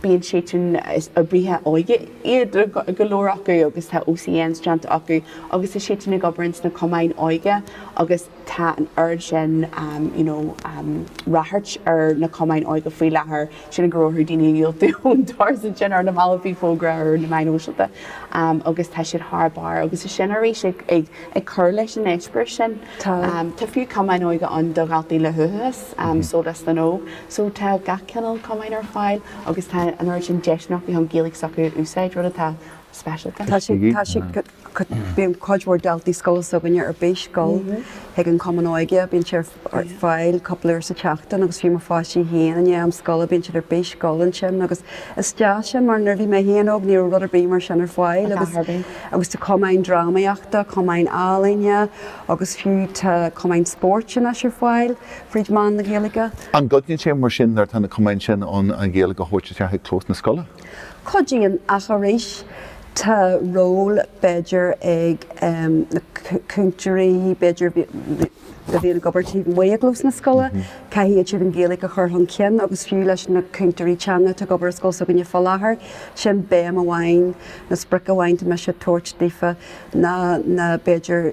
S3: bíonn siadsan is oibrithe óige. iad go leor acu agus tá OCNs déanta acu agus tá siadsan ag obair insna cumainn óige agus tá an oiread sin you know ráchairt ar na cumainn óige faoi láthair sin ag go raibh orthu daoine a dhiúltú ón doras ansin ar na mallaibh bhí fógra ar na meáin shóisialta agus tá siad thar barr agus tá sin arís ag ag ag cur leis an eispéireas sin tá tá fiú cumainn óige ann do dhaltaí le huathachas Sólás na nÓg So tá gach cineál cumainn ar fáil agus tá an oiread sin deiseanna acu chun Gaeilge s'acu a úsáid, rud atá speisialta. Tá sé, tá sé,
S4: bíonn cuid mhór daltaí scoile s'againne ar bís dul chuig an Cumann Óige, bíonn sé ar fáil cúpla uair sa tseachtain agus fiú mo pháistí féin i ndiaidh am scoile bíonn siad ar bís dul ansin agus is deas sin mar nuair a bhí mé féin óg ní raibh rud ar bith mar sin ar fáil agus, agus tá cumainn drámaíochta, cumainn ealaíne agus fiú tá cumainn spóirt anois ar fáil. fríd mheán na Gaeilge. An gcuidíonn sé
S1: mar sin nuair atá na cumainn sin ann an Ghaeilge a thabhairt isteach i gclós na scoile?
S4: Cuidíonn, ach arís tá ról b'fhéidir ag na cúntóirí b'fhéidir a bhíonn ag obair taobh amuigh i gclós na scoile, caithfidh iad siúd an Ghaeilge a chur chun cinn agus fiú leis na cúntóirí teanga atá ag obair i scoil s'againne fá láthair, sin béim amháin nó sprioc amháin atá mise ag tabhairt daofa ná b'fhéidir,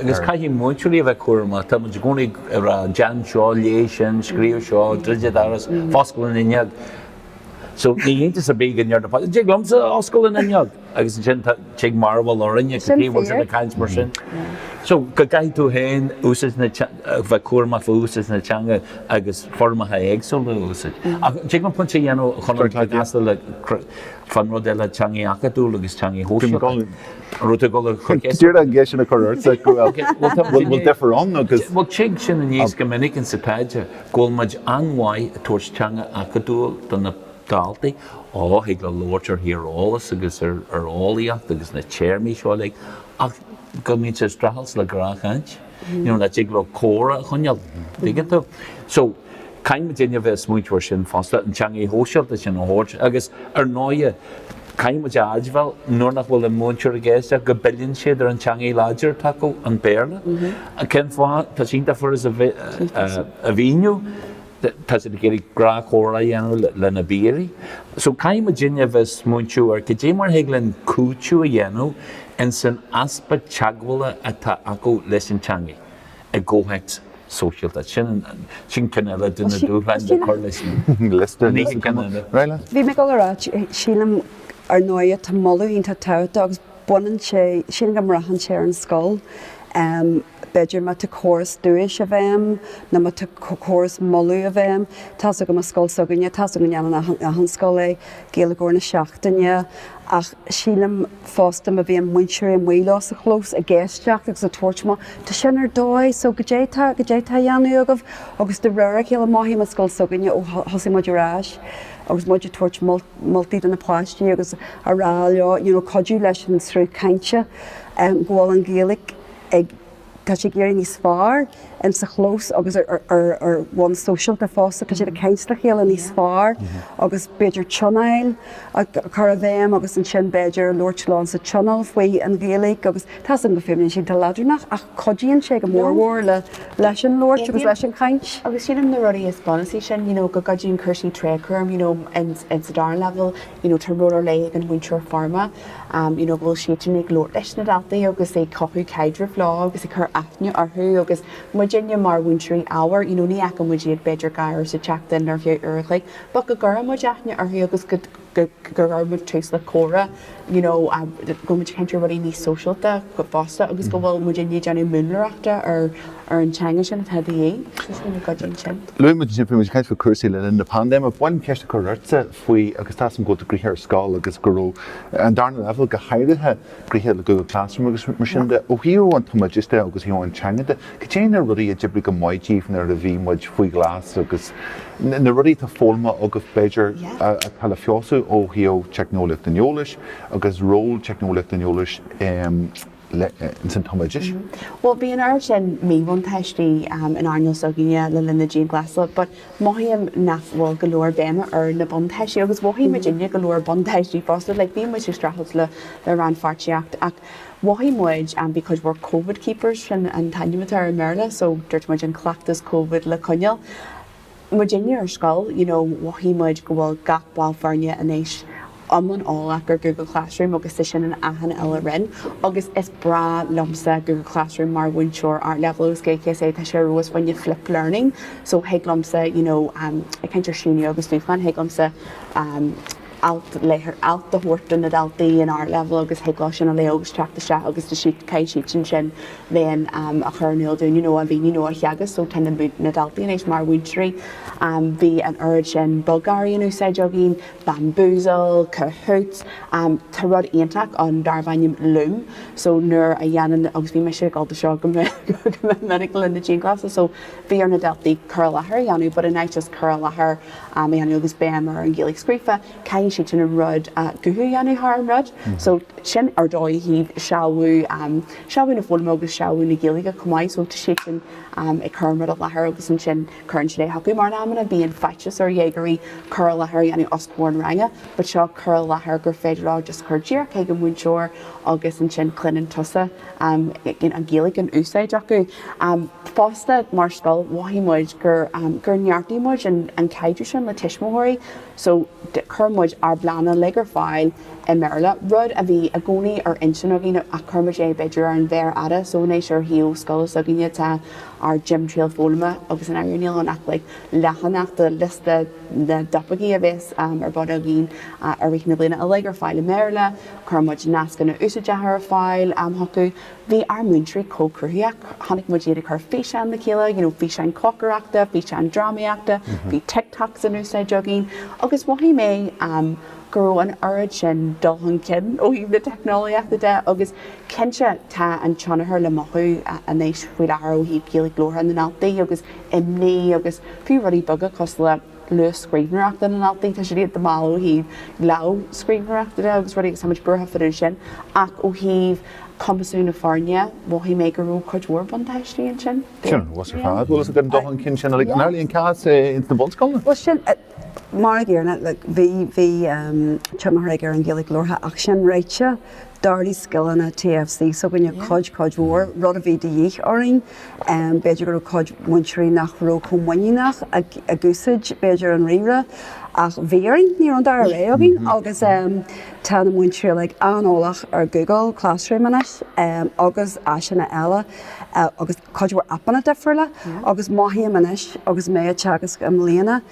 S2: Agus caithfidh múinteoirí a bheith cúramach, tá muid i gcónaí ag rá 'déan seo', 'léigh sin', 'scríobh seo', 'druid an doras', 'foscail an fhuinneog'. So ní hiontas ar bith go ndeir na páistí 'An dtig liomsa foscail an fhuinneog? agus ansin tig mearbhall orainn cad chuige a bhfuil siad ag caint mar sin. So go gcaithfidh tú féin úsáid na, bheith cúramach faoi úsáid na teanga agus foirmeacha éagsúla a úsáid. Ach tig liom pointe a dhéanamh chun an cur i gcás le, fán rud eile, teanga acadúil agus teanga shóisialta. rud ag dul chuig Esat. Deireadh an gceisteanna a
S1: chur ortsa go bhfuil bhfuil deifir ann agus. Bhuel, tig sin
S2: aníos go minic in sa taighde, go bhfuil muid an-mhaith ag tabhairt teanga acadúil do na daltaí, á, thig leo labhairt ar thíreolas agus ar ar eolaíocht agus na téarmaí seo uilig ach go mbíonn siad ag streachailt le gnáthchaint, you know, nach dtig leo comhrá a choinneáil, dtuigeann tú? So. Caithfidh muidinne a bheith ag smaointeamh air sin fosta, an teangaidh shóisialta sin a thabhairt agus ar ndóighe, caithfimid a aidmheáil nuair nach bhfuil an múinteoir i gceist ach go bpilleann siad ar an teangaidh láidir atá acu, an Béarla. Cén fáth? Tá sé iontach furast a mhíniú, tá siad ag iarraidh gnáthchomhrá a dhéanamh lena bpíaraí. So caithfidh muidinne a bheith ag smaointeamh goidé mar thig linn cúiteamh a dhéanamh in san easpa teagmhála atá acu leis an teangaidh. i gcomhthéacs sóisialta. Sin ceann eile de na dúshláin le cur leis an
S1: liosta.
S2: Bhí mé ag dul a rá,
S4: sílim ar ndóigh tá moladh iontach tábhachtach agus baineann sé, sílim go mbraitheann sé ar an scoil, b'fhéidir má tá córas duais i bhfeidhm nó má tá córas moladh i bhfeidhm. Tá's agam i scoil s'againne, tá's agam go ndéanann achan scoil é, Gaeilgeoir na Seachtaine, ach sílim, fosta má bhíonn múinteoirí amuigh leo sa chlós ag éisteacht agus ag tabhairt maith tá sin ar dóigh so goidé tá goidé atá a dhéanamh agaibh agus de réir a chéile mothaím i scoil s'againne ó thosaigh muid ar ais agus muid ag tabhairt moltaí do na páistí agus a rá leo you know cuidiú leis an sruth cainte go bhfuil an Ghaeilge ag tá sí ag éirí níos fearr sa chlós agus ar bhonn sóisialta fosta, tá siad ag caint le chéile níos fearr agus b'fhéidir tionóil a chur i bhfeidhm agus ansin b'fhéidir labhairt leo sa tionól faoi an Ghaeilge agus tá's agam go bhfuaimníonn sé iontach leadránach ach cuidíonn sé go mór mhór leis an labhairt agus leis an chaint. Agus sin an na rudaí is
S3: bunasaí sin, you know go gcuidíonn cúrsaí tréadchúraim, you know in sa dara leibhéal, you know tá ról ar leith ag an mhúinteoir foirme, you know, go bhfuil siadsan ag labhairt leis na daltaí agus ag cothú caidrimh leo agus ag cur aithne orthu agus muidinne mar mhúinteoirí ábhair, you know, ní fhaca muid iad b'fhéidir dhá uair sa tseachtain nó thrí uair an chloig but go gcuireann muid aithne orthu agus go go gcuireann muid tús le comhrá, you know, go bhfuil muid ag caint ar rudaí níos sóisialta fosta agus go bhfuil muidinne ag déanamh múnlaireachta ar ar an teanga sin atá de dhíth. Is minic go gcuidíonn sin. Luaigh muid ansin bhí muid ag caint
S1: faoi chúrsaí le linn na paindéime. Ba mhaith liom ceist a chur ortsa faoi agus tá's agam go bhfuil tú gnoitheach ar scoil agus go raibh an darna leibhéal go háirithe gnoitheach le Google Classroom agus mar sin de. Ó thaobh an tumoideachais de agus ó thaobh an teanga de, cad é na rudaí a d'oibrigh go maith daoibh nuair a bhí muid faoi ghlas agus na rudaí atá foghlamtha agaibh b'fhéidir atá le feabhsú ó thaobh teicneolaíocht an eolais agus ról teicneolaíocht an eolais i ins an tumoideachas. Bhuel, bhí an
S3: oiread sin míbhuntáistí in earnáil s'againne le linn na dianghlasála but mothaím nach bhfuil go leor béime ar na buntáistí agus mhothaigh muidinne go leor buntáistí fosta, like bhí muid ag streachailt le rannpháirtíocht ach mhothaigh muid bhí cuid mhór Covid keepers, sin an t-ainm atá air i mBéarla, so dúirt muid an cleachtas Covid le coinneáil. Muidinne ar scoil, you know, mhothaigh muid go bhfuil gach ball foirne anois iomlán eolach ar Google Classroom agus sin in achan uile roinn agus is breá liomsa Google Classroom mar mhúinteoir Ardleibhéal agus GCSE, tá sé ar fheabhas fá choinne Flip Learning so thig liomsa, you know, ag caint ar síniú agus dúshlán, thig liomsa, um, alt a thabhairt do na daltaí in Ardleibhéal agus thig leo sin a léamh agus teacht isteach agus tá siad caithfidh siadsan sin then a chur in iúl dúinn you know a mhíniú nó a theagasc so tá na na daltaí anois mar mhúinteoirí bhí an oiread sin bogearraí in úsáid againn bamboozle kahoot tá rud iontach ann darbh ainm loom so nuair a dhéanann agus bhí mise ag gabháil dó seo go minic le linn na dianghlasála so bhí ar na daltaí cur i láthair a dhéanamh but in áit just cur i láthair a dhéanamh agus béim ar an nGaeilge scríofa, caithfidh siadsan an rud guth a dhéanamh thar an rud. So sin ar dóigh ó thaobh sealbhú, sealbhú na foghlama agus sealbhú na Gaeilge chomh maith. So tá siadsan ag cur an rud i láthair agus ansin cuireann siad é chucu. Mar in amanna bíonn faitíos ar dhéagóirí cur i láthair a dhéanamh os comhair an ranga but seo cur i láthair gur féidir leo just cur díreach chuig an múinteoir agus ansin cluineann tusa an Gaeilge in úsáid acu. Fosta, mar scoil, mhothaigh muid gur neartaigh muid an caidreamh sin le tuismitheoirí so chuir muid ár bpleananna uilig ar fáil i mBéarla, rud a bhí i gcónaí ar intinn againn ach chuir muid é b'fhéidir ar an mhéar fhada so anois ar shuíomh scoile s'againne tá ár dtimthriall foghlama agus i ndáiríre níl ann ach like leathanach de liosta na dtopaicí a bhéas ar bun againn i rith na bliana uilig ar fáil i mBéarla. Chuir muid nascanna úsáideacha ar fáil chucu. Bhí ár múinteoirí chomh cruthaitheach, chonaic muid iad ag cur físeán le chéile, you know físeáin cócaireachta, físeáin drámaíochta, bhí TikToks in úsáid againn agus mhothaigh mé ehm go raibh an oiread sin dul chun cinn ó thaobh na teicneolaíochta de agus cinnte tá an tionchar le mothú anois faoi láthair ó thaobh Gaeilge labhartha na ndaltaí agus imní agus fiú rudaí beaga cosúil le luas scríbhneoireachta na ndaltaí, tá siad iontach mall ó thaobh lámhscríbhneoireachta de agus rudaí agus tá muid buartha fá dtaobh de sin ach ó thaobh cumasú na foirne, mhothaigh mé go raibh cuid mhór buntáistí ansin. Sin ar fheabhas ar fad,
S1: bhfuil 's agat an dul chun cinn sin uilig. An amhlaidh an cás é ins na bunscoileanna?
S4: Bhuel sin, mar a déarfá, like, bhí, bhí, ehm, tionchar aige ar an Ghaeilge labhartha ach sin ráite, D'ardaigh scileanna TFC s'againne cuid, cuid mhór, rud a bhí de dhíth orainn. B'fhéidir go raibh cuid múinteoirí nach raibh chomh muiníneach ag úsáid, b'fhéidir, an ríomhaire, ach bhí orainn, ní raibh an dara rogha againn agus tá na múinteoirí uilig an-eolach ar Google Classroom anois agus áiseanna eile agus cuid mhór aipeanna difriúla agus mothaím anois agus mé ag teagasc i mbliana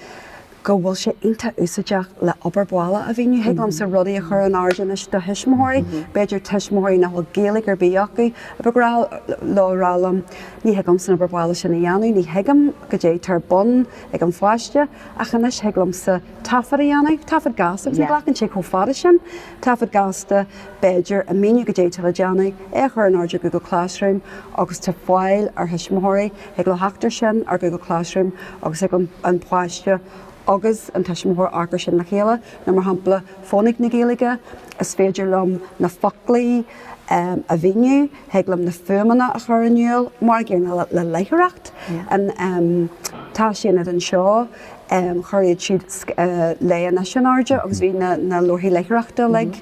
S4: go bhfuil sé iontach úsáideach le obair bhaile a mhíniú, thig liomsa rudaí a chur in airde anois do thuismitheoirí, b'fhéidir tuismitheoirí nach bhfuil Gaeilge ar bith acu, ab ghnách leo a rá liom, ní thig liomsa an obair bhaile sin a dhéanamh, ní thuigim caidé tá ar bun ag an pháiste, ach anois thig liomsa taifead a dhéanamh, taifead gasta agus ní ghlacann sé chomh fada sin, taifead gasta b'fhéidir a mhíniú caidé tá le déanamh, é a chur in airde ar Google Classroom agus tá fáil ag thuismitheoirí thig leo theacht air sin, ar Google Classroom, agus thig an páiste agus an tuismitheoir amharc air sin le chéile, nó mar shampla Fónaic na Gaeilge, is féidir liom na foclaí a mhíniú, thig liom na fuaimeanna a chur in iúl, mar an gcéanna le léitheoireacht, an tÁisaonad anseo, chuir iad siúd Léigh Anois in airde agus bhí na leabharthaí léitheoireachta uilig.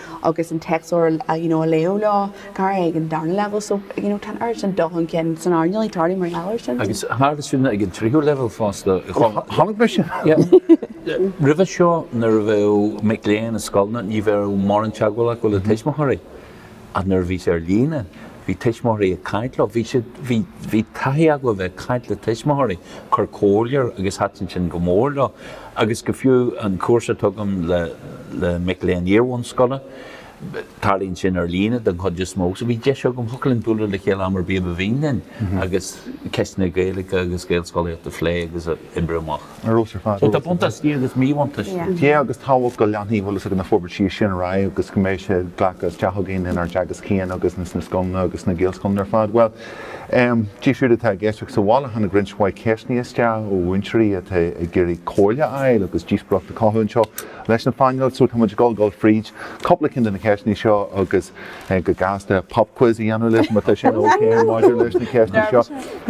S3: agus an téacsleabhar you know a léamh leo go háirithe ag an darna leibhéal so you know tá an oiread sin dul chun cinn sonraí ndiaidh tarlaithe mar gheall air sin. Agus tharla sin ag
S2: an tríú leibhéal fosta. Chonaic mé
S1: sin?
S2: Yeah. Roimhe seo nuair a bheadh mic léinn i scoileanna ní bheadh mórán teagmhála acu le tuismitheoirí ach nuair a bhí sé ar líne Bhí tuismitheoirí ag caint leo. Bhí siad, bhí, bhí taithí acu a bheith ag caint le tuismitheoirí, cur comhairle orthu agus thaitin sin go mór leo. Agus go fiú an cúrsa a tugaim le, le mic léinn iarbhunscoile, tarlaíonn sin ar líne den chuid is mó. So bhí deis agam, thiocfadh linn bualadh le chéile am ar bith a ba mhian linn agus ceisteanna Gaeilge agus Gaelscolaíochta a phlé agus a oibriú amach. Ar fheabhas ar fad. Tá buntáistí agus míbhuntáistí. Yeah agus
S1: tábhachtach go leanfaidh an bhfuil fhios agat na forbairtí sin ar aghaidh agus go mbeidh sé glactha isteach againn inár dteagasc féin agus ins na scoileanna agus sna Gaelscoileanna ar fad. Bhuel, em, díobh siúd atá ag éisteacht sa bhaile tháinig roinnt mhaith ceisteanna isteach ó mhúinteoirí atá ag iarraidh comhairle a fháil agus díospóireacht a chothú anseo leis an phainéal so táimid ag dul fríd cúpla ceann de na ceisteanna seo agus go gasta pop quiz a dhéanamh libh má tá sin ok maidir leis na ceisteanna seo.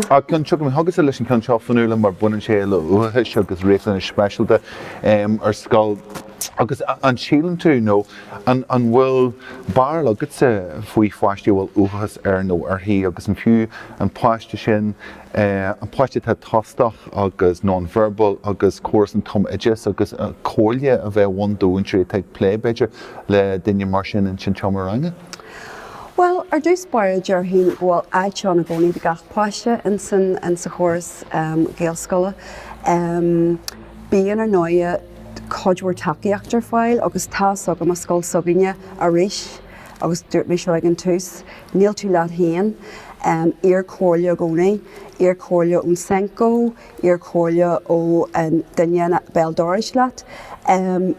S1: Ach Ciara tiocfaidh mé chugatsa leis an ceann seo faoi chomhairle mar baineann sé le uathachas agus riachtanais speisialta ar scoil agus an síleann tú nó an bhfuil barúil agatsa faoi pháistí a bhfuil uathachas air nó uirthi agus an fiú an páiste sin an páiste atá tostach agus nonverbal agus córas an tumoideachais agus comhairle a thabhairt do mhúinteoirí atá ag plé, b'fhéidir, le duine mar sin ins an tseomra ranga? Bhuel,
S4: ar dtús báire déarfainn go bhfuil áit ann i gcónaí do gach páiste ins an sa chóras gaelscoile. Bíonn, ar ndóighe, cuid mhór tacaíocht ar fáil agus tá's agam, i scoil s'againne arís, agus dúirt mé seo ag an tús, níl tú leat féin, iarr comhairle i gcónaí, iarr comhairle ón Senco, iarr comhairle ón duine béal dorais leat.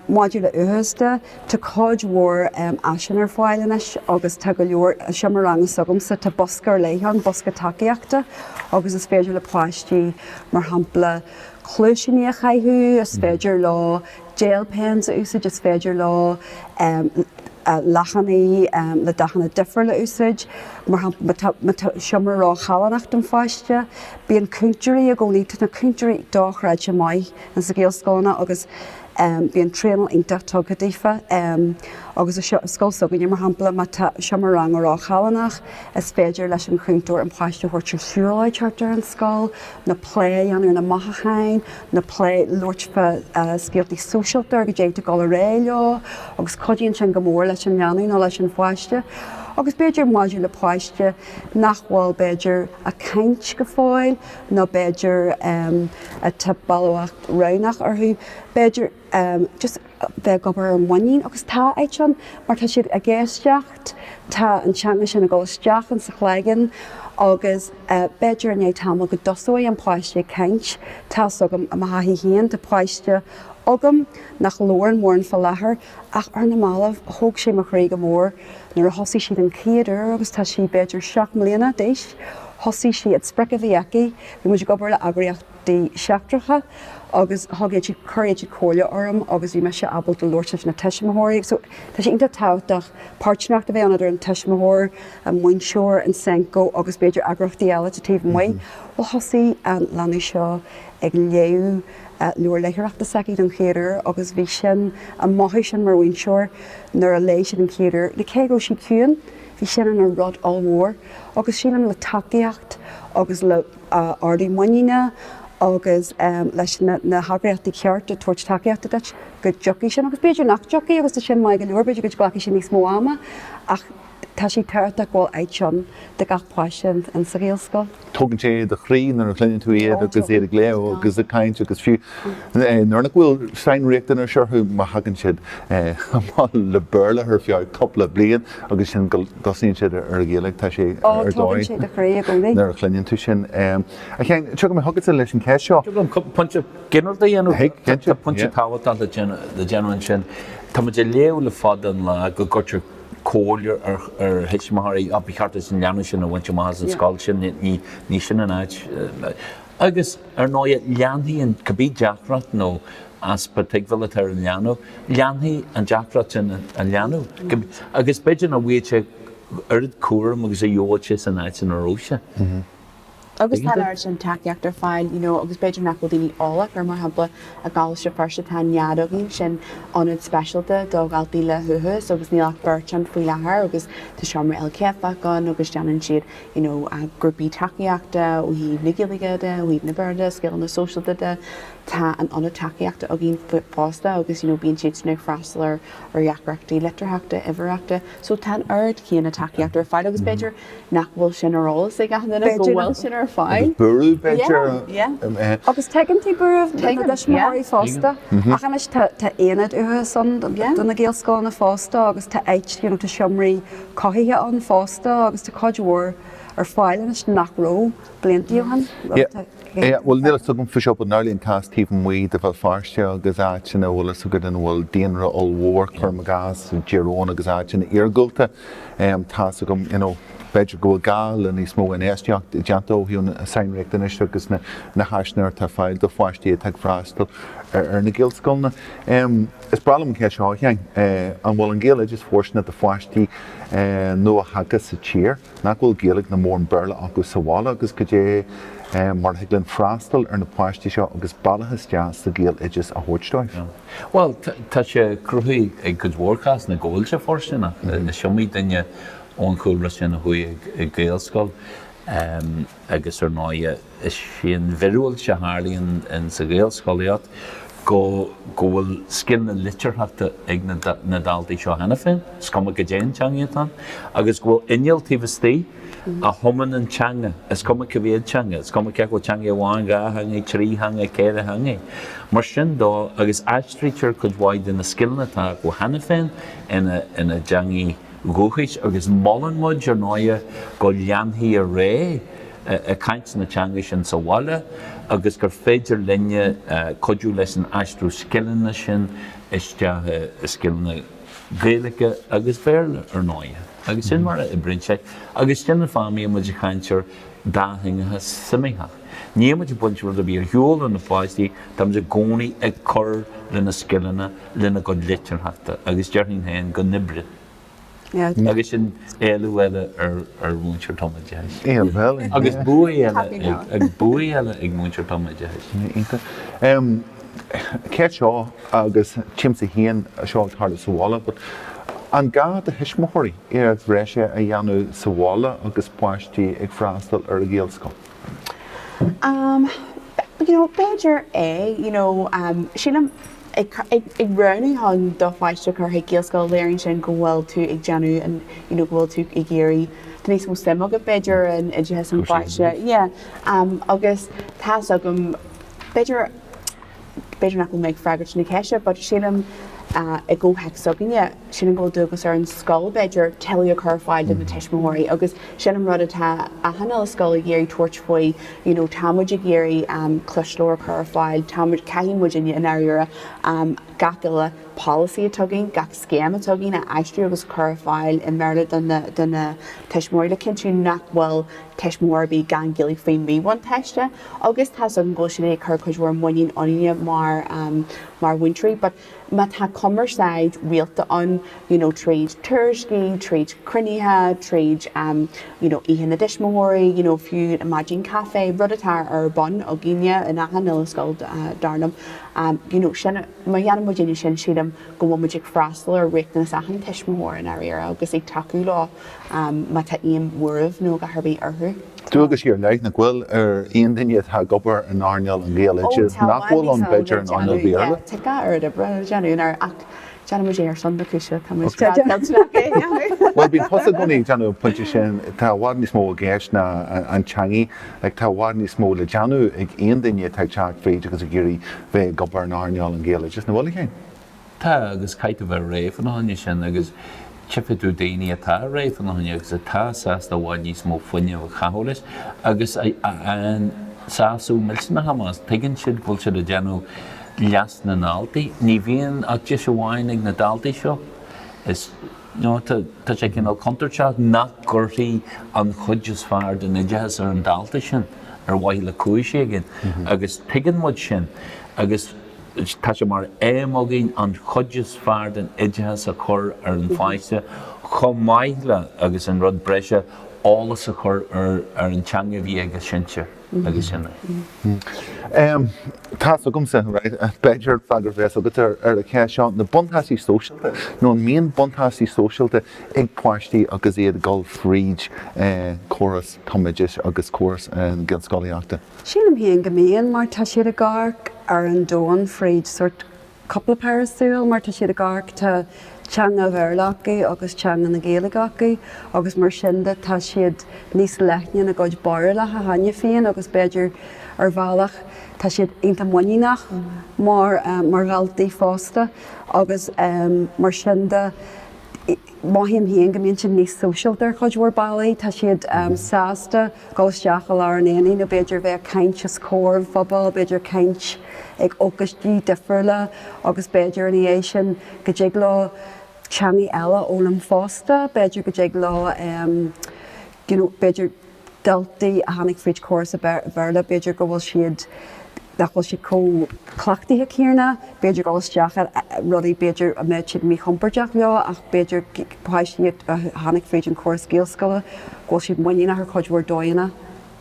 S4: Maidir le huathachas de, tá cuid mhór áiseanna ar fáil anois agus tá go leor, seomra ranga s'agamsa, tá bosca ar leith ann, bosca tacaíochta, agus is féidir le páistí, mar shampla, cluaisíní a chaitheamh, is féidir leo. Gel pens a úsáid, is féidir leo leathanaigh le dathanna difriúla a úsáid, má tá seomra róchallánach don pháiste. Bíonn cúntóirí i gcónaí, tá na cúntóirí dochreidte maith insna Gaelscoileanna agus bíonn traenáil iontach tugtha daofa agus i scoil s'againne mar shampla má tá seomra ranga róchallánach is féidir leis an chúntóir an páiste a thabhairt ar shiúlóid thart ar an scoil nó plé a dhéanamh ar na mothúcháin nó plé labhairt fá scéaltaí sóisialta ar cad é atá ag dul ar aghaidh leo agus cuidíonn sin go mór leis an leanbh nó leis an pháiste agus b'fhéidir maidir le páiste nach bhfuil b'fhéidir ag caint go fóill nó b'fhéidir atá balbhacht roghnach orthu b'fhéidir em just bheith ag obair ar mhuinín agus tá áit ann mar tá siad ag éisteacht tá an teanga sin ag dul isteach in sa chloigeann agus eh b'fhéidir i ndiaidh tamall go dtosóidh an páiste ag caint tá's agam i mo thaithí féin tá páiste agam nach labhrann mórán fá láthair ach ar na mallaibh thóg sé mo chroí go mór nuair a thosaigh sí den chéad uair agus tá sí b'fhéidir seacht mbliana d'aois thosaigh sí an sprioc a bhí aici bhí muid ag obair le eagraíocht seachtracha agus thug siad, chuir siad comhairle orm agus bhí mise ábalta labhairt leis na tuismitheoirí. So, tá sé iontach tábhachtach páirtnéireacht a bheith ann idir an tuismitheoir, an múinteoir, an Senco agus b'fhéidir eagraíochtaí eile taobh amuigh. Bhuel, thosaigh an leanbh seo ag léamh leabhar léitheoireachta s'aici don chéad uair agus bhí sin, an mothú sin mar mhúinteoir nuair a léigh sí don chéad uair, cé go raibh sí ciúin, bhí sin ina rud ollmhór agus sílim le tacaíocht agus le. ardú muiníne agus leis na heagraíochtaí cearta ag tabhairt tacaíochta duit go dtiocfaidh sin, agus b'fhéidir nach dtiocfaidh agus sin maith go leor, b'fhéidir go nglacfaidh sé níos mó ama ach tá sé tábhachtach go bhfuil áit ann do gach páiste in sa Ghaelscoil. Tógann sé do
S1: chroí nuair a chluineann tú iad agus iad ag léamh agus ag caint agus fiú nuair nach bhfuil sainriachtanais orthu má thagann siad amach le Béarla ar feadh cúpla bliain. Agus ansin go dtosaíonn siad ar an Ghaeilge, tá sé ar
S4: dóigh nuair a chluineann tú
S1: sin. A Sheáin, tiocfaidh mé chugat leis an cheist seo. An dtig liom pointe ginearálta
S2: a dhéanamh. Thig, cinnte, yeah. Tá pointe tábhachtach le déanamh ansin. Tá muid ag léamh le fada an lá go gcuirtear comhairle ar thuismitheoirí, á, ba cheart duit an leanbh sin a bhaint amach as an scoil sin, ní sin an áit. Agus, ar ndóigh, leanfaidh an, cibé deacracht nó easpa tuigbheála atá ar an leanbh, Leanfaidh an deacracht sin á leanúint agus b'fhéidir nach bhfaighidh sé oiread cúraim agus a gheobhadh sé san áit ina raibh sé.
S3: Agus tá an oiread sin tacaíocht ar fáil you know agus b'fhéidir nach bhfuil daoine eolach air mar shampla i gColáiste Feirste tá an nead againn sin ionad speisialta do dhaltaí le huathachas agus níl ach beirt ann faoi láthair agus tá seomra ilchéadfach ann agus déanann siad you know grúpaí tacaíochta ó thaobh na Gaeilge de ó thaobh an Bhéarla scileanna sóisialta de Tá an Ionad Tacaíochta againn fosta agus you know bíonn siadsan ag freastal ar dheacrachtaí litearthachta, uimhearthachta so tá an oiread céanna tacaíochta ar fáil agus b'fhéidir nach bhfuil sin ar eolas ag achan duine go bhfuil sin ar fáil. Agus buaireamh b'fhéidir. Yeah,
S1: yeah. Agus tuigeann
S4: tú buaireamh na dtuismitheoirí fosta ach anois tá aonad uathachais ann do na Gaelscoileanna fosta agus tá áit, you know tá seomraí cothaithe ann fosta agus tá cuid mhór ar fáil anois nach raibh blianta ó shin.
S1: Yeah, well, níl fhios agam faoi seo, but inár gcás taobh amuigh de Bhéal Feirste agus áiteanna an bhfuil fhios agat ina bhfuil daonra ollmhór, cuirim i gcás, i dTír Eoghain agus áiteanna iargúlta, em, tá fhios agam, you know, b'fhéidir go bhfuil gá le níos mó infheistíocht a dhéanamh ó thaobh na sainriachtanais agus na na háiseanna atá ar fáil do pháistí atá ag freastal ar ar na Gaelscoileanna. Em, is breá liom an cheist seo a Sheáin, eh, an bhfuil an Gaeloideas fóirsteanach do pháistí, eh, nuathagtha sa tír? nach bhfuil Gaeilge ná mórán Béarla acu sa bhaile agus goidé mar a thig linn freastal ar na páistí seo agus bealach isteach sa Ghaeloideas a thabhairt dóibh?
S2: Bhuel, tá sé cruthaithe ag cuid mhór cásanna go bhfuil sé fóirsteanach. Is iomaí duine ón chúlra sin a chuaigh ag Gaelscoil. agus ar ndóigh is é an mhiriúilt a tharlaíonn insa Ghaelscolaíocht go go bhfuil scil na litearthachta ag na na daltaí seo cheana féin, is cuma cad é an teanga atá ann, agus go bhfuil inneall taobh istigh a thumann an teanga, is cuma cé mhéad teanga, is cuma cé acu teanga amháin, dhá theanga, trí theanga, ceithre theanga. Mar sin de, agus aistrítear cuid mhaith de na scileanna atá acu cheana féin ina ina dteangaí, dúchais agus molann muid, ar ndóigh, go leanfaí ar aghaidh ag caint na teanga sin sa bhaile agus gur féidir linne cuidiú leis an aistriú scileanna sin isteach i scileanna Gaeilge agus Béarla, ar ndóigh, agus sin mar a oibríonn sé agus sin an fáth a mbíonn muid ag caint ar dátheangachas suimitheach. Níl muid ag baint rud ar bith ar shiúl ó na páistí, tá muid i gcónaí ag cur lena scileanna, lena gcuid litearthachta agus déarfainn féin go n-oibrigh agus sin éileamh eile ar mhúinteoir tumoideachais agus bua eile ag bua eile ag múinteoir tumoideachais. Iontach. An
S1: cheist seo agus tchímse é seo ag tarlú sa bhaile but. An gá do thuismitheoirí iarracht bhreise a dhéanamh sa bhaile agus páistí ag freastal ar an Ghaelscoil?
S3: Am, you know, b'fhéidir é, you know, am, sílim, ag, ag, ag roghnú chun do pháiste a chur chuig Gaelscoil, léiríonn sin go bhfuil tú ag déanamh an, you know, go bhfuil tú ag iarraidh, tá níos mó suim agat b'fhéidir in oideachas an pháiste, yeah, am, agus tá's agam, b'fhéidir, B'fhéidir nach bhfuil mé ag freagairt na ceiste but sílim i gcomhthéacs s'againne, sílim go bhfuil dualgas ar an scoil, b'fhéidir, tuilleadh a chur ar fáil do na tuismitheoirí agus sin an rud atá achan uile scoil ag iarraidh tabhairt faoi you know tá muid ag iarraidh Cluas le Glór a chur ar fáil, tá muid, caithfidh muid i ndáiríre gach uile polasaí atá againn, gach scéim atá againn a aistriú agus chur ar fáil i mBéarla do na tuismitheoirí le cinntiú nach bhfuil tuismitheoir ar bith gan Ghaeilge faoi mhíbhuntáiste agus tá 's agam go bhfuil siad ag cur cuid mhór muiníne ionainne mar mar mhúinteoirí but má tá cumarsáid rialta ann you know tríd tuairiscí tríd cruinnithe tríd you know oíche na dtuismitheoirí you know fiú maidín caife rud atá ar bun againne in achan uile scoil dar liom you know sin Má dhéanann muid é sin, sílim go bhfuil muid ag freastal ar riachtanais achan tuismitheoir i ndáiríre agus ag tacú leo má tá aon bhuaireamh nó a dhath ar bith orthu. Dualgaisí ar leith,
S1: nach bhfuil, ar aon duine atá ag obair in earnáil an Ghaeloideachais nach bhfuil ann b'fhéidir in
S3: earnáil
S1: Bhéarla. Bhuel, bíonn tusa i gcónaí ag déanamh an pointe sin, tá i bhfad níos mó i gceist ná an teangaidh. Ag tá i bhfad níos mó le déanamh ag aon duine atá ag teacht fríd agus ag iarraidh bheith ag obair in earnáil an Ghaeloideachais, nach bhfuil, a Shéamais. Tá, agus
S2: caithfidh tú bheith réidh fá choinne sin agus tchifidh tú daoine atá réidh fána choinne agus atá sásta i bhfad níos mó fuinnimh a chaitheamh leis agus a bhain sásamh millteanach amach as. Tuigeann siad go bhfuil siad ag déanamh leas na ndaltaí. Ní bhíonn ach deis amháin ag na daltaí seo. Is. nó tá sé cineál contúirteach nach gcuirtí an chuid is fearr den oideachas ar an dalta sin ar mhaithe le cúis éigin agus tuigeann muid sin agus tá sé mar aidhm againn an chuid is fearr den oideachas a chur ar an pháiste chomh maith le, agus an rud breise, eolas a chur ar an teanga a bhí ag a sinsir. agus sin
S1: é. Tá's agamsa, b'fhéidir freagra a bheas agat ar an cheist seo, na buntáistí sóisialta nó an mbíonn buntáistí sóisialta ag páistí agus iad ag dul fríd córas tumoideachais agus córas na Gaelscolaíochta? Sílim féin go
S4: mbíonn mar tá siad ag amharc ar an domhan fríd sórt cupla péire súl mar tá siad ag amharc, tá teanga Bhéarla acu agus teanga na Gaeilge acu agus mar sin de tá siad níos leithne ina gcuid barúlacha cheana féin agus b'fhéidir ar bhealach tá siad iontach muiníneach mar, mar dhaltaí fosta agus mar sin de. Mothaím féin go mbíonn siad níos sóisialta ar chuid mhór bealaí. Tá siad sásta dul isteach i lár an aonaigh nó b'fhéidir bheith ag caint os comhair an phobail, b'fhéidir caint ag ócáidí difriúla agus b'fhéidir ina dhiaidh sin go dtig leo teangaí eile a fhoghlaim fosta. B'fhéidir go dtig leo you know b'fhéidir daltaí a tháinig fríd córas an Bhéarla b'fhéidir go bhfuil siad nach bhfuil siad chomh cleachtaithe céanna, b'fhéidir, dul isteach i rudaí b'fhéidir a mbeadh siad míchompordach leo ach b'fhéidir páistí a tháinig fríd an chóras Gaelscoile go bhfuil siad muiníneach ar chuid mhór dóigheanna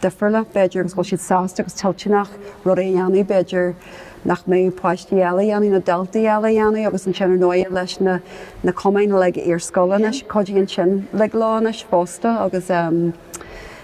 S4: difriúla, b'fhéidir, agus go bhfuil siad sásta agus toilteanach rudaí a dhéanamh b'fhéidir nach mbeadh páistí eile a dhéanamh nó daltaí eile a dhéanamh agus ansin ar ndóighe leis na na cumainn like iarscoile anois cuidíonn sin like leo anois fosta agus ehm.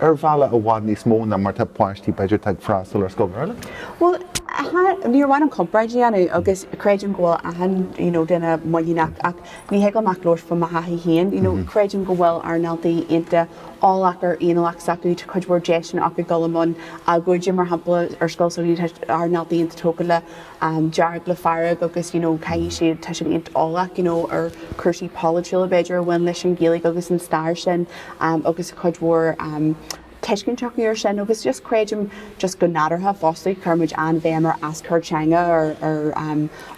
S1: Ar bhealach i bhfad níos mó ná mar atá páistí, b'fhéidir, atá ag freastal ar scoil Bhéarla.
S3: Bhuel, níor mhaith liom comparáid a dhéanamh agus creidim go bhfuil achan you know duine muiníneach ach ní thig liom ach labhairt faoi mo thaithí féin you know creidim go bhfuil ár ndaltaí iontach eolach ar fhéiniúlacht s'acu tá cuid mhór deiseanna acu dul i mbun agóide mar shampla ar scoil s'againne tá ár ndaltaí iontach tógtha le dearg le fearg agus you know caithfidh siad, tá siad iontach eolach you know ar chúrsaí polaitiúla b'fhéidir a bhain leis an Ghaeilge agus an stair sin agus cuid mhór tuiscint acu ar sin agus just creidim just go nádúrtha fosta chuir muid an-bhéim ar aschur teanga ar ar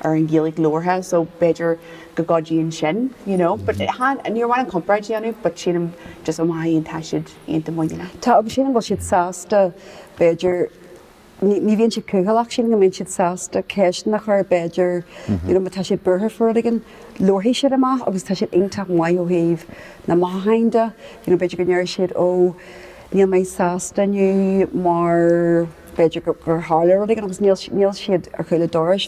S3: ar an Ghaeilge labhartha so b'fhéidir go gcuidíonn sin you know but níor mhaith liom comparáid a dhéanamh but sílim just ó mo thaithí féin tá siad iontach muiníneach Tá agus sílim go bhfuil siad
S4: sásta b'fhéidir ní bhíonn siad cúthaileach sílim go mbíonn siad sásta ceisteanna a chur, b'fhéidir, you know má tá siad buartha faoi rud éigin, labharfaidh siad amach agus tá siad iontach maith ó thaobh na mothúcháin de, you know b'fhéidir go ndéarfaidh siad ó níl mé sásta inniu mar b'fhéidir gur tharla rud éigin agus níl siad ar chúl an dorais.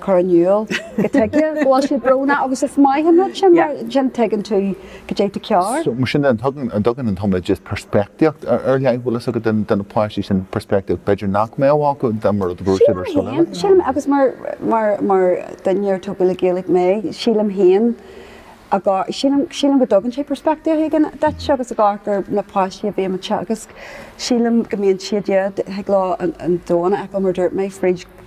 S4: chur in iúl cad tuige go bhfuil siad brónach agus is maith an rud sin mar sin tuigeann tú cad é atá cearr. So mar sin de tugann
S1: an dtugann an tumoideachas peirspictíocht ar ar leith bhfuil a fhios agat den den na páistí sin peirspictíocht b'fhéidir nach mbeadh acu de mar a dúirt siad ar scoil. Sílim sílim agus
S4: mar mar mar duine a tógadh le Gaeilge mé sílim féin agá sílim sílim go dtugann sé peirspictíocht éigin duit agus agá gur na páistí a bhí mé ag teagasc sílim go mbíonn siad iad ag lá an domhain acu mar dúirt mé fríd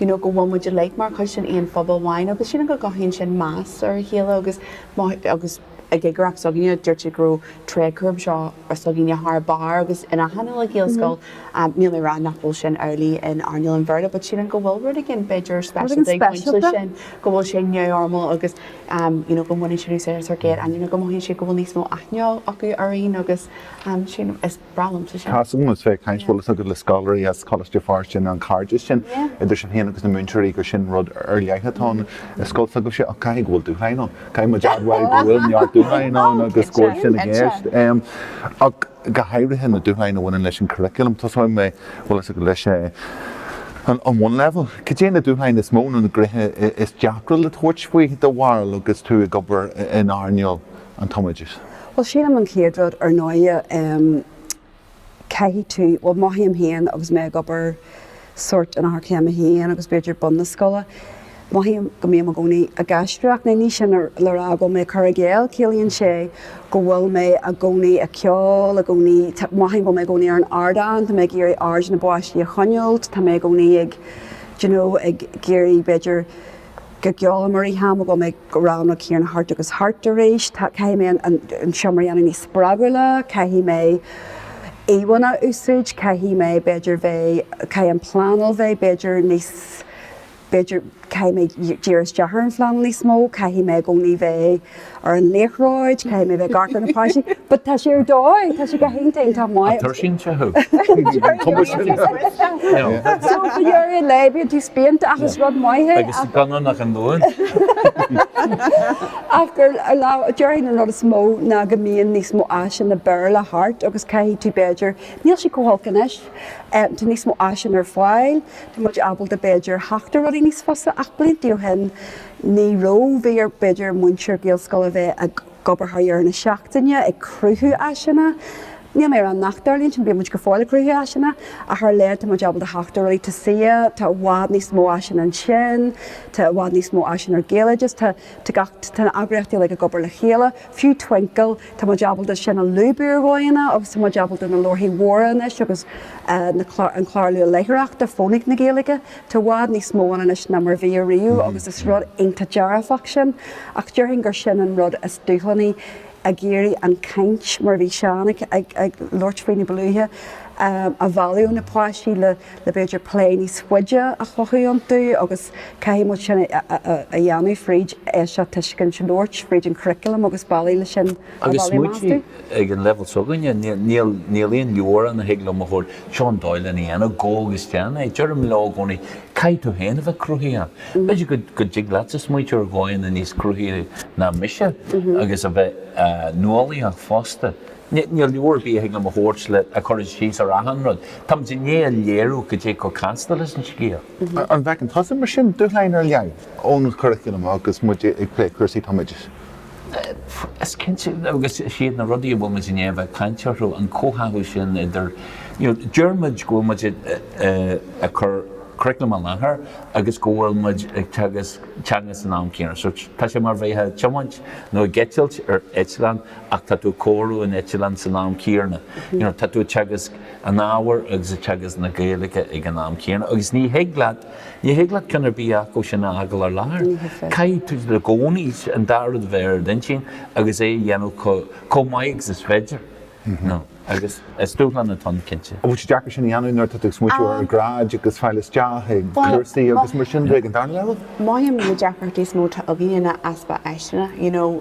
S3: you know go bhfuil muid uilig mar chuid den aon phobal amháin agus you know go gcothaíonn sin meas ar a chéile agus má agus i gcigireacht s'againne dúirt siad go raibh tréadchúram anseo s'againne thar barr agus in achan uile Gaelscoil um níl mé a rá nach bhfuil sin amhlaidh in earnáil an Bhéarla but sílim go bhfuil rud éigin b'fhéidir Rud éigin speisialta ag baint leis speisialta. sílim go bhfuil sé neamhfhoirmiúil agus um you know go mbaineann siad úsáid as ár gcéad ainm nó go mothaíonn siad go bhfuil níos mó aithne acu orainn agus um sílim is Tá súil agat bheith ag caint bhfuil
S1: fhios agat le scoláirí as Coláiste Feirste an an cairdeas sin idir sinn féin agus na múinteoirí gur sin rud ar leith atá ann i scoil s'agaibhse ach caithfidh go bhfuil dúshlán ann. Caithfidh muid admháil go bhfuil neart dúshlán ann agus go bhfuil sin i gceist. Ach go háirithe na dúshláin a bhaineann leis an curriculum. Tosóidh mé bhfuil fhios agat leis an an bhunleibhéal. Cad é na dúshláin is mó nó na gnéithe is deacra le tabhairt faoi do bharúil agus tú ag obair in earnáil an tumoideachais? Bhuel, sílim
S4: an chéad rud, ar ndóighe, em, caithfidh tú, bhuel, mothaím féin agus mé ag obair sórt in Eochairchéim a hAon agus b'fhéidir bun na scoile, mothaím go mbím i gcónaí ag aisteoireacht. Now ní sin le rá go bhfuil mé ag cur i gcéill, ciallaíonn sé go bhfuil mé i gcónaí ag ceol, i gcónaí, tá, mothaím go bhfuil mé i gcónaí ar an ardán, tá mé ag iarraidh aird na bpáistí a choinneáilt, tá mé i gcónaí ag, d'you know, ag iarraidh, b'fhéidir, Go gialla mar a tháim agam ag rang na céanna thart agus thart arís, caithfidh mé an seomra a dhéanamh níos spreagúla, caithfidh mé íomhánna a úsáid, caithfidh mé b'fhéidir bheith, caithfidh an pleanáil bheith b'fhéidir níos, b'fhéidir, caithfidh mé díriú isteach ar an phleanáil níos mó, caithfidh mé i gcónaí bheith, ar an liathróid, caithfidh mé a bheith i gceartlár na bpáistí, but tá sé ar dóigh, tá sé go hiontach, tá maith. An dtuirsíonn sé
S2: thú?
S4: Cuma sin. So ag deireadh an lae bíonn tú spíonta ach is rud maith é Agus ach. gan ann ach an
S2: Luan.
S4: Ach gur déarfainn an rud is mó ná go mbíonn níos mó áiseanna Béarla thart agus caithfidh tú b'fhéidir, níl sí chomh holc anois, tá níos mó áiseanna ar fáil, tá muid ábalta b'fhéidir theacht ar rudaí níos fusa ach blianta ó shin, Ní raibh, bhí ar, b'fhéidir, múinteoir Gaelscoile a bheith ag obair thar dheireadh na seachtaine ag cruthú áiseanna. Níl mé ag rá nach dtarlaíonn sin, bíonn muid go fóill ag cruthú áiseanna ach ar a laghad tá muid ábalta theacht ar rudaí. Tá CCEA, tá i bhfad níos mó áiseanna ansin, tá i bhfad níos mó áiseanna ar Gaeloideachas, tá gach, tá na eagraíochtaí uilig ag obair le chéile. Fiú Twinkl, tá muid ábalta sin a lúbadh ar dhóigheanna agus tá muid ábalta na leabharthaí mhóra anois agus na, an clár luath-léitheoireachta, Fónaic na Gaeilge, Tá i bhfad níos mó ann anois ná mar bhí ariamh agus is rud iontach dearfach sin ach déarfainn gur sin an rud is dúshlánaí, ag iarraidh an chaint, mar a bhí Seán ag labhairt faoi níba luaithe, a mhealladh ó na páistí le b'fhéidir plé níos faide a chothú iontu agus caithfidh muid sin a dhéanamh fríd éisteacht, tuiscint, labhairt, fríd an churriculum agus bealaí le sin. Agus
S2: muid ag an leibhéal s'againne, níl aon leabhar ann a thig liom a thabhairt, seo an dóigh lena dhéanamh, gabh agus déan é. Deirim leo i gcónaí, caithfidh tú féin a bheith cruthaitheach. B'fhéidir go dtig leatsa smaointiú ar dhóigheanna níos cruthaithí ná mise agus a bheith nuálaíoch fosta. Níl leabhar ar bith a thig liom a thabhairt le cur síos ar achan rud. Táimid i ndiaidh a léiriú cad é chomh casta leis an scéal. An bhfeiceann tusa
S1: mar sin dúshláin ar leith ón churaclam agus muid ag plé cúrsaí? Táimid.
S2: Is cinnte, agus sin iad na rudaí a bhfuil muid i ndiaidh a bheith ag caint orthu, an comhtháthú sin idir, you know, deir muid go bhfuil muid ag cur curaclam i láthair agus go bhfuil muid ag teagasc teanga san am céanna. So tá sé mar a bheifeá ag tiomáint nó ag eitilt ar eitleán ach tá tú ag cóiriú an eitleán san am céanna. You know, tá tú ag teagasc an ábhair agus ag teagasc na Gaeilge ag an am céanna agus ní thig leat Ní thig leat ceann ar bith acu sin a fhágáil ar lár. Caithfidh tú i gcónaí an dá rud a bheith ar d'intinn agus é a dhéanamh chomh maith agus is féidir. Agus is dúshlán atá ann, cinnte. An bhfuil sé deacair sin a dhéanamh
S1: nuair atá tú ag smaointiú ar ghráid agus fáil isteach chuig cúrsaí agus mar sin de ag an darna leibhéal? Mothaím na
S3: deacrachtaí is mó atá againn ná easpa áiseanna. You know,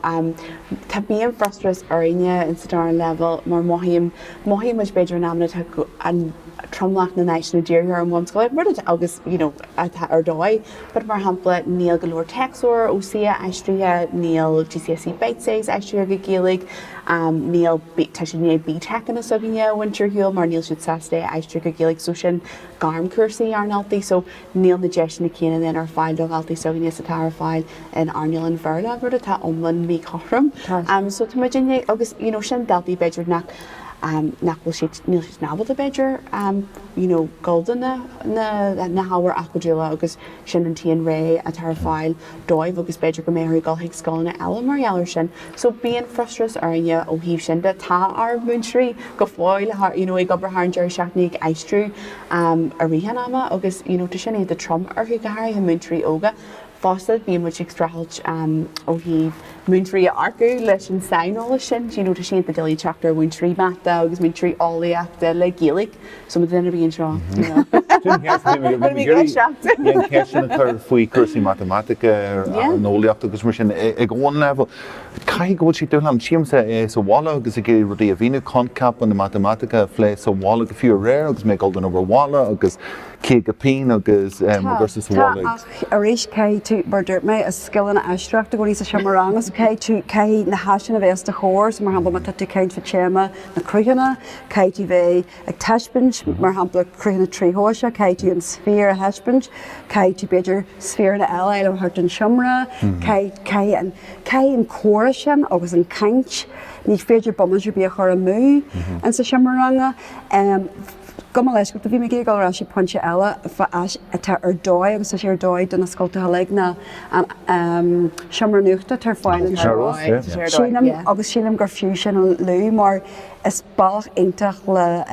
S3: tá, bíonn frustrachas orainne insa darna leibhéal mar mothaím, mothaímid b'fhéidir in amanna, tá an, tromlach na n-áiseanna dírithe ar an bhunscoil, rud atá maith agus, you know, atá ar dóigh, but mar shampla níl go leor téacsleabhair ó CCEA aistrithe, níl GCSE Bitesize aistrithe go Gaeilge, níl, tá siad i ndiaidh BTECanna s'againne a bhaint ar shiúl mar níl siad sásta é a aistriú go Gaeilge so sin gairmcúrsaí ár ndaltaí so, Níl na deiseanna céanna linn ar fáil do dhaltaí s'againne is atá ar fáil in earnáil an Bhéarla, rud atá iomlán míchothrom. So tá muid i ndiaidh, agus you know sin daltaí b'fhéidir nach nach bhfuil siad, níl siad ábalta b'fhéidir you know dul don na hábhair acadúla agus sin an t-aon réimse atá ar fáil. dóibh agus b'fhéidir go mbeadh orthu dul chuig scoileanna eile mar gheall air sin. So bíonn frustrachas orainne ó thaobh sin de. Tá ár múinteoirí go fóill tá, you know, ag obair thar an deireadh seachtaine ag aistriú um i rith an ama agus, you know, tá sin iontach trom orthu, go háirithe múinteoirí óga. Fosta bíonn muid ag streachailt um ó thaobh múinteoirí a earcú leis an saineolas sin, you know, tá sé iontach doiligh teacht ar mhúinteoirí mata agus múinteoirí eolaíochta le Gaeilge. So mothaím go mbíonn seo, you know. Bhfuil mé ag
S1: iarraidh teacht. Bhí an cheist sin a chur faoi cúrsaí matamaitice nó eolaíochta agus mar sin ag an bhunleibhéal. Caithfidh go bhfuil sé dúshlánach. Feicimse é sa bhaile agus ag iarraidh rudaí a mhíniú, coincheapa na matamaitice a phlé sa bhaile go fiú aréir agus mé ag dul don obair bhaile agus caoga pingin agus mo gcúrsa sa bhaile ag. Tá, tá, ach arís
S4: caithfidh tú, mar a dúirt mé, is scileanna éisteachta i gcónaí sa tseomra ranga so caithfidh tú, caithfidh na háiseanna a bheith os do chomhair so mar shampla má tá tú ag caint fá théama na cruthanna, Caithfidh tú bheith ag taispeáint, mar shampla, cruthanna tríthoiseacha, caithfidh tú an sféar a thaispeáint, caithfidh tú, b'fhéidir, sféarna eile a fháil ó thart an tseomra, caithfidh an comhrá sin agus an chaint, ní féidir bomaite ar bith a chur amú insa seomra ranga. Gabh mo leithscéal, bhí mé ag iarraidh dul ar ais chuig pointe eile fá áis atá ar dóigh agus tá sé ar dóigh do na scoltacha uilig ná an seomra nuachta atá ar fáil anseo agus sílim gur fiú sin a lua mar Is bealach iontach le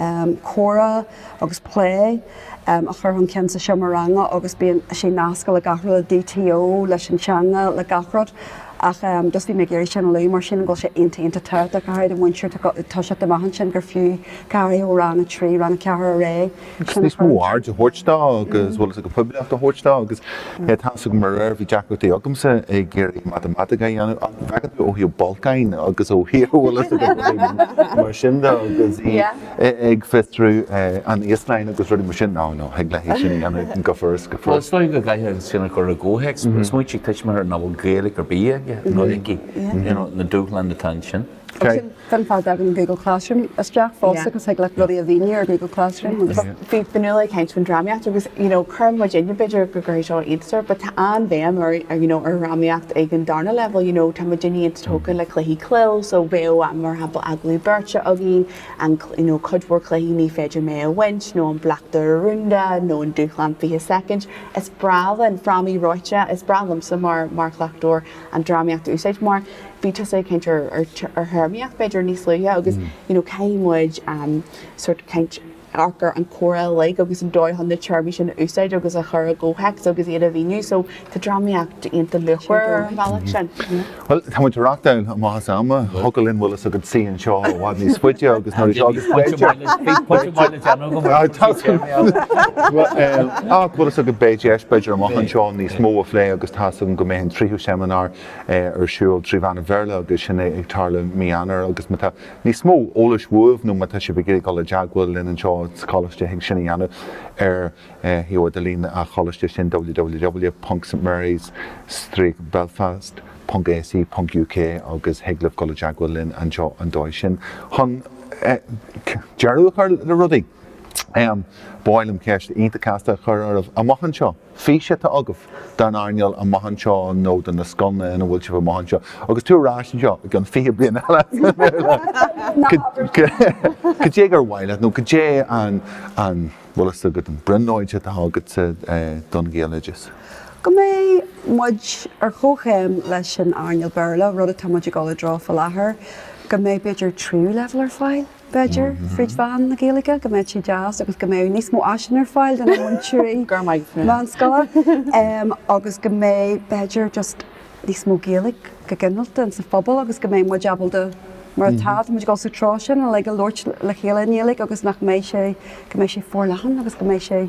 S4: comhrá agus plé a chur chun cinn sa seomra ranga agus bíonn sé nasctha le gach rud, le DTO, leis an teanga, le gach rud ach just bhí mé ag iarraidh sin a lua mar sílim go bhfuil sé iontach iontach tábhachtach, go háirid do mhúinteoir ag toiseacht amach ansin gur fiú go háirithe ó rang a trí, rang a ceathair ar aghaidh. níos mó
S1: aird a thabhairt dó agus bhfuil fhios agat poiblíocht a thabhairt dó agus é ag teastáil go mór air. Bhí deacrachtaí agamsa ag iarraidh matamaitic a dhéanamh ach bhfeacann tú ó thaobh bolcáin agus ó thaobh bhfuil fhios agam go bhfuil mar sin dó agus í ag fiosrú an Íoslainn agus rudaí mar sin, nó nó thig leat sin a dhéanamh go furast go furast. Is léir go gcaithfidh muid sin a
S2: chur i gcomhthéacs, smaointigh ar thuismitheoir nach bhfuil Gaeilge ar bith aige nó aici, you know, na dúshláin atá ansin.
S4: Sin an fáth a dtagann Google Classroom isteach fosta agus thig leat rudaí a mhíniú ar Google Classroom agus. Bhí Fionnuala
S3: ag caint faoin drámaíocht agus you know cuireann muidinne b'fhéidir go gcuirfidh seo iontas ort but tá an-bhéim ar you know ar dhrámaíocht ag an darna leibhéal you know tá muidinne iontach tógtha le cluichí cló so bheadh am mar shampla agallaimh beirte againn an you know cuid mhór cluichí ní féidir mé a bhaint nó an bleachtaire rúnda nó an dúshlán fiche soicind. Is breá linn frámaí reoite is breá liomsa mar mar chleachtóir an drámaíocht a úsáid mar bhí tusa ag caint ar théarmaíocht b'fhéidir níos luaithe agus you know caithfidh muid sort of caint ar gur an comhairle uilig agus an dóigh chun na téarmaí sin a úsáid agus a chur i gcomhthéacs agus iad a mhíniú so tá drámaíocht iontach luachmhar ar an bhealach sin. Bhuel tá
S1: muid ag reáchtáil amach as am, thiocfadh linn bhfuil fhios agat suí anseo i bhfad níos faide agus nuair a d'fhágas Beidh bhíos pointe mhaith le déanamh agam ar na téarmaí eile. Ach bhfuil fhios agat beidh deis b'fhéidir amach anseo níos mó a phlé agus tá's agam go mbeidh an tríú seimineár ar siúl trí mheán an Bhéarla agus sin ag tarlú mí Eanáir agus má tá níos mó eolais uaibh nó má tá sibh ag iarraidh dul i dteagmháil linn anseo sa choláiste thig sin a dhéanamh ar shuíomh idirlín a' choláiste sin www.stmarys-belfast.ac.uk agus thig libh dul i dteagmháil linn anseo an dóigh sin. Chun deireadh a chur le rudaí ba mhaith liom ceist iontach casta a chur oraibh amach anseo. fís atá agaibh don earnáil amach anseo nó do na scoileanna ina bhfuil sibh amach anseo agus tú ar ais anseo i gceann 20 bliain eile, caidé gur mhaith leat nó caidé an bhfuil fhios agat an brionglóid atá agatsa don Ghaeloideas? Go
S4: mbeidh muid ar chomhchéim leis an earnáil Béarla, rud atá muid ag dul i dtreo faoi láthair, go mbeidh b'fhéidir tríú leibhéal ar fáil. b'fhéidir, fríd mheán na Gaeilge, go mbeadh sé deas agus go mbeadh níos mó áiseanna ar fáil do na múinteoirí meánscoile agus go mbeadh, b'fhéidir, just níos mó Gaeilge go ginearálta in sa phobal agus go mbeadh muid ábalta, mar atá, tá muid ag dul sa treo sin, a labhairt le chéile i nGaeilge agus nach mbeadh sé, go mbeadh sé forleathan agus go mbeadh sé.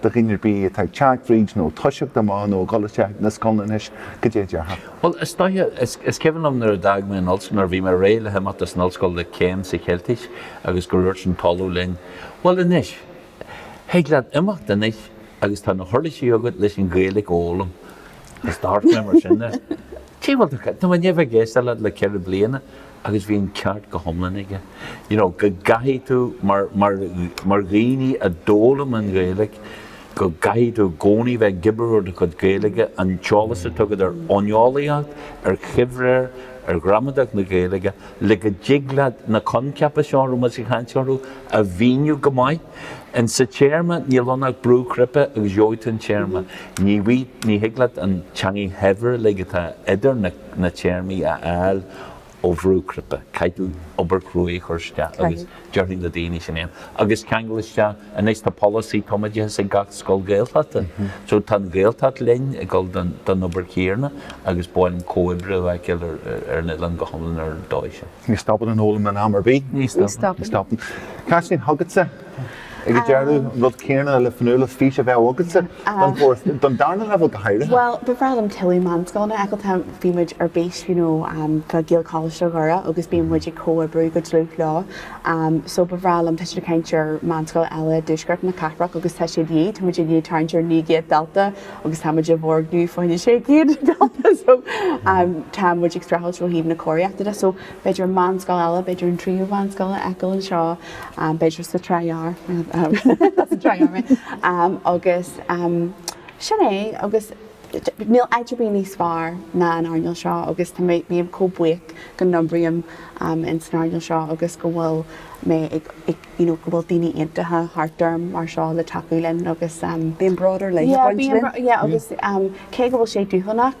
S1: do dhaoine ar bith atá ag teacht fríd nó ag toiseacht amach nó ag gabháil isteach na scoileanna anois go dté a déarfá. Bhuel, is
S2: dóiche, is cuimhin liom nuair a d'fhág mé an ollscoil, nuair a bhí mé réidh le himeacht as an ollscoil le céim sa Cheiltis agus go ndúirt an tOllamh linn, Bhuel anois, thig leat imeacht anois agus tá na huirlisí agat leis an Ghaeilge a fhoghlaim. Is d'amharc mé mar sin air. Cé, bhuel, tá mé i ndéidh a bheith ag éisteacht leat le ceithre bliana. agus bhí an ceart go hiomlán aige, you know go gcaithfidh tú mar, mar, mar dhaoine a d'fhoghlaim an Ghaeilge go gcaithfidh tú i gcónaí bheith ag obair ar do chuid Gaeilge, an t-eolas atá agat ar fhóineolaíocht, ar choimhréir, ar ghramadach na Gaeilge le go dtig leat na coincheapa seo a raibh muid ag chaint orthu a mhíniú go maith. Ansin an téarma, níl ann ach brú cnaipe agus gheobhaidh tú an téarma. Ní, ní thig leat an teangaidh shaibhir uilig atá idir na. na téarmaí a fháil ó bhrú cnaipe. Caithfidh tú obair chruaidh a chur isteach agus déarfainn le daoine sin é agus ceangal isteach. Anois tá polasaí tumoideachais ag gach scoil Gaeltachta so tá an Ghaeltacht linn ag dul don obair chéarna agus ba mhaith liom comhoibriú a fheiceáil ar an oileán go hiomlán ar an dóigh sin. Ní stopann an fhoghlaim
S1: in am ar bith. Ní stopann. Ní
S2: stopann.
S1: Caitlín, chugatsa. Agus deireadh, an rud céanna le Fionnuala, fís a bheith agatsa don darna leibhéal go háirithe? Bhuel, ba bhreá liom
S3: tuilleadh meánscoileanna a fheiceáil. Tá, bhí muid ar bís, you know, um fá Ghaelcholáiste Dhoire agus bíonn muid ag comhoibriú go dlúth leo. Um so ba bhreá liom, tá siad ag caint ar meánscoil eile i dtuaisceart na cathrach agus tá sé de dhíth, tá muid ag tarraingt ar naoi gcéad dalta agus tá muid i bhfoirgneamh fá choinne sé chéad dalta so um tá muid ag streachailt ó thaobh na cóiríochta de. So b'fhéidir meánscoil eile, b'fhéidir an tríú mheánscoil a fheiceáil anseo, b'fhéidir sa Trá Ghearr, agus sin é agus níl áit ar bith níos fearr ná an earnáil seo agus tá mé, bím chomh buíoch go n-oibrím in san earnáil seo agus go bhfuil mé ag, you know, go bhfuil daoine iontacha thart orm mar seo le tacú linn agus. Bíonn bród ar leith
S4: ag baint linn. Yeah, bíonn, yeah, agus
S3: cé go bhfuil sé dúshlánach,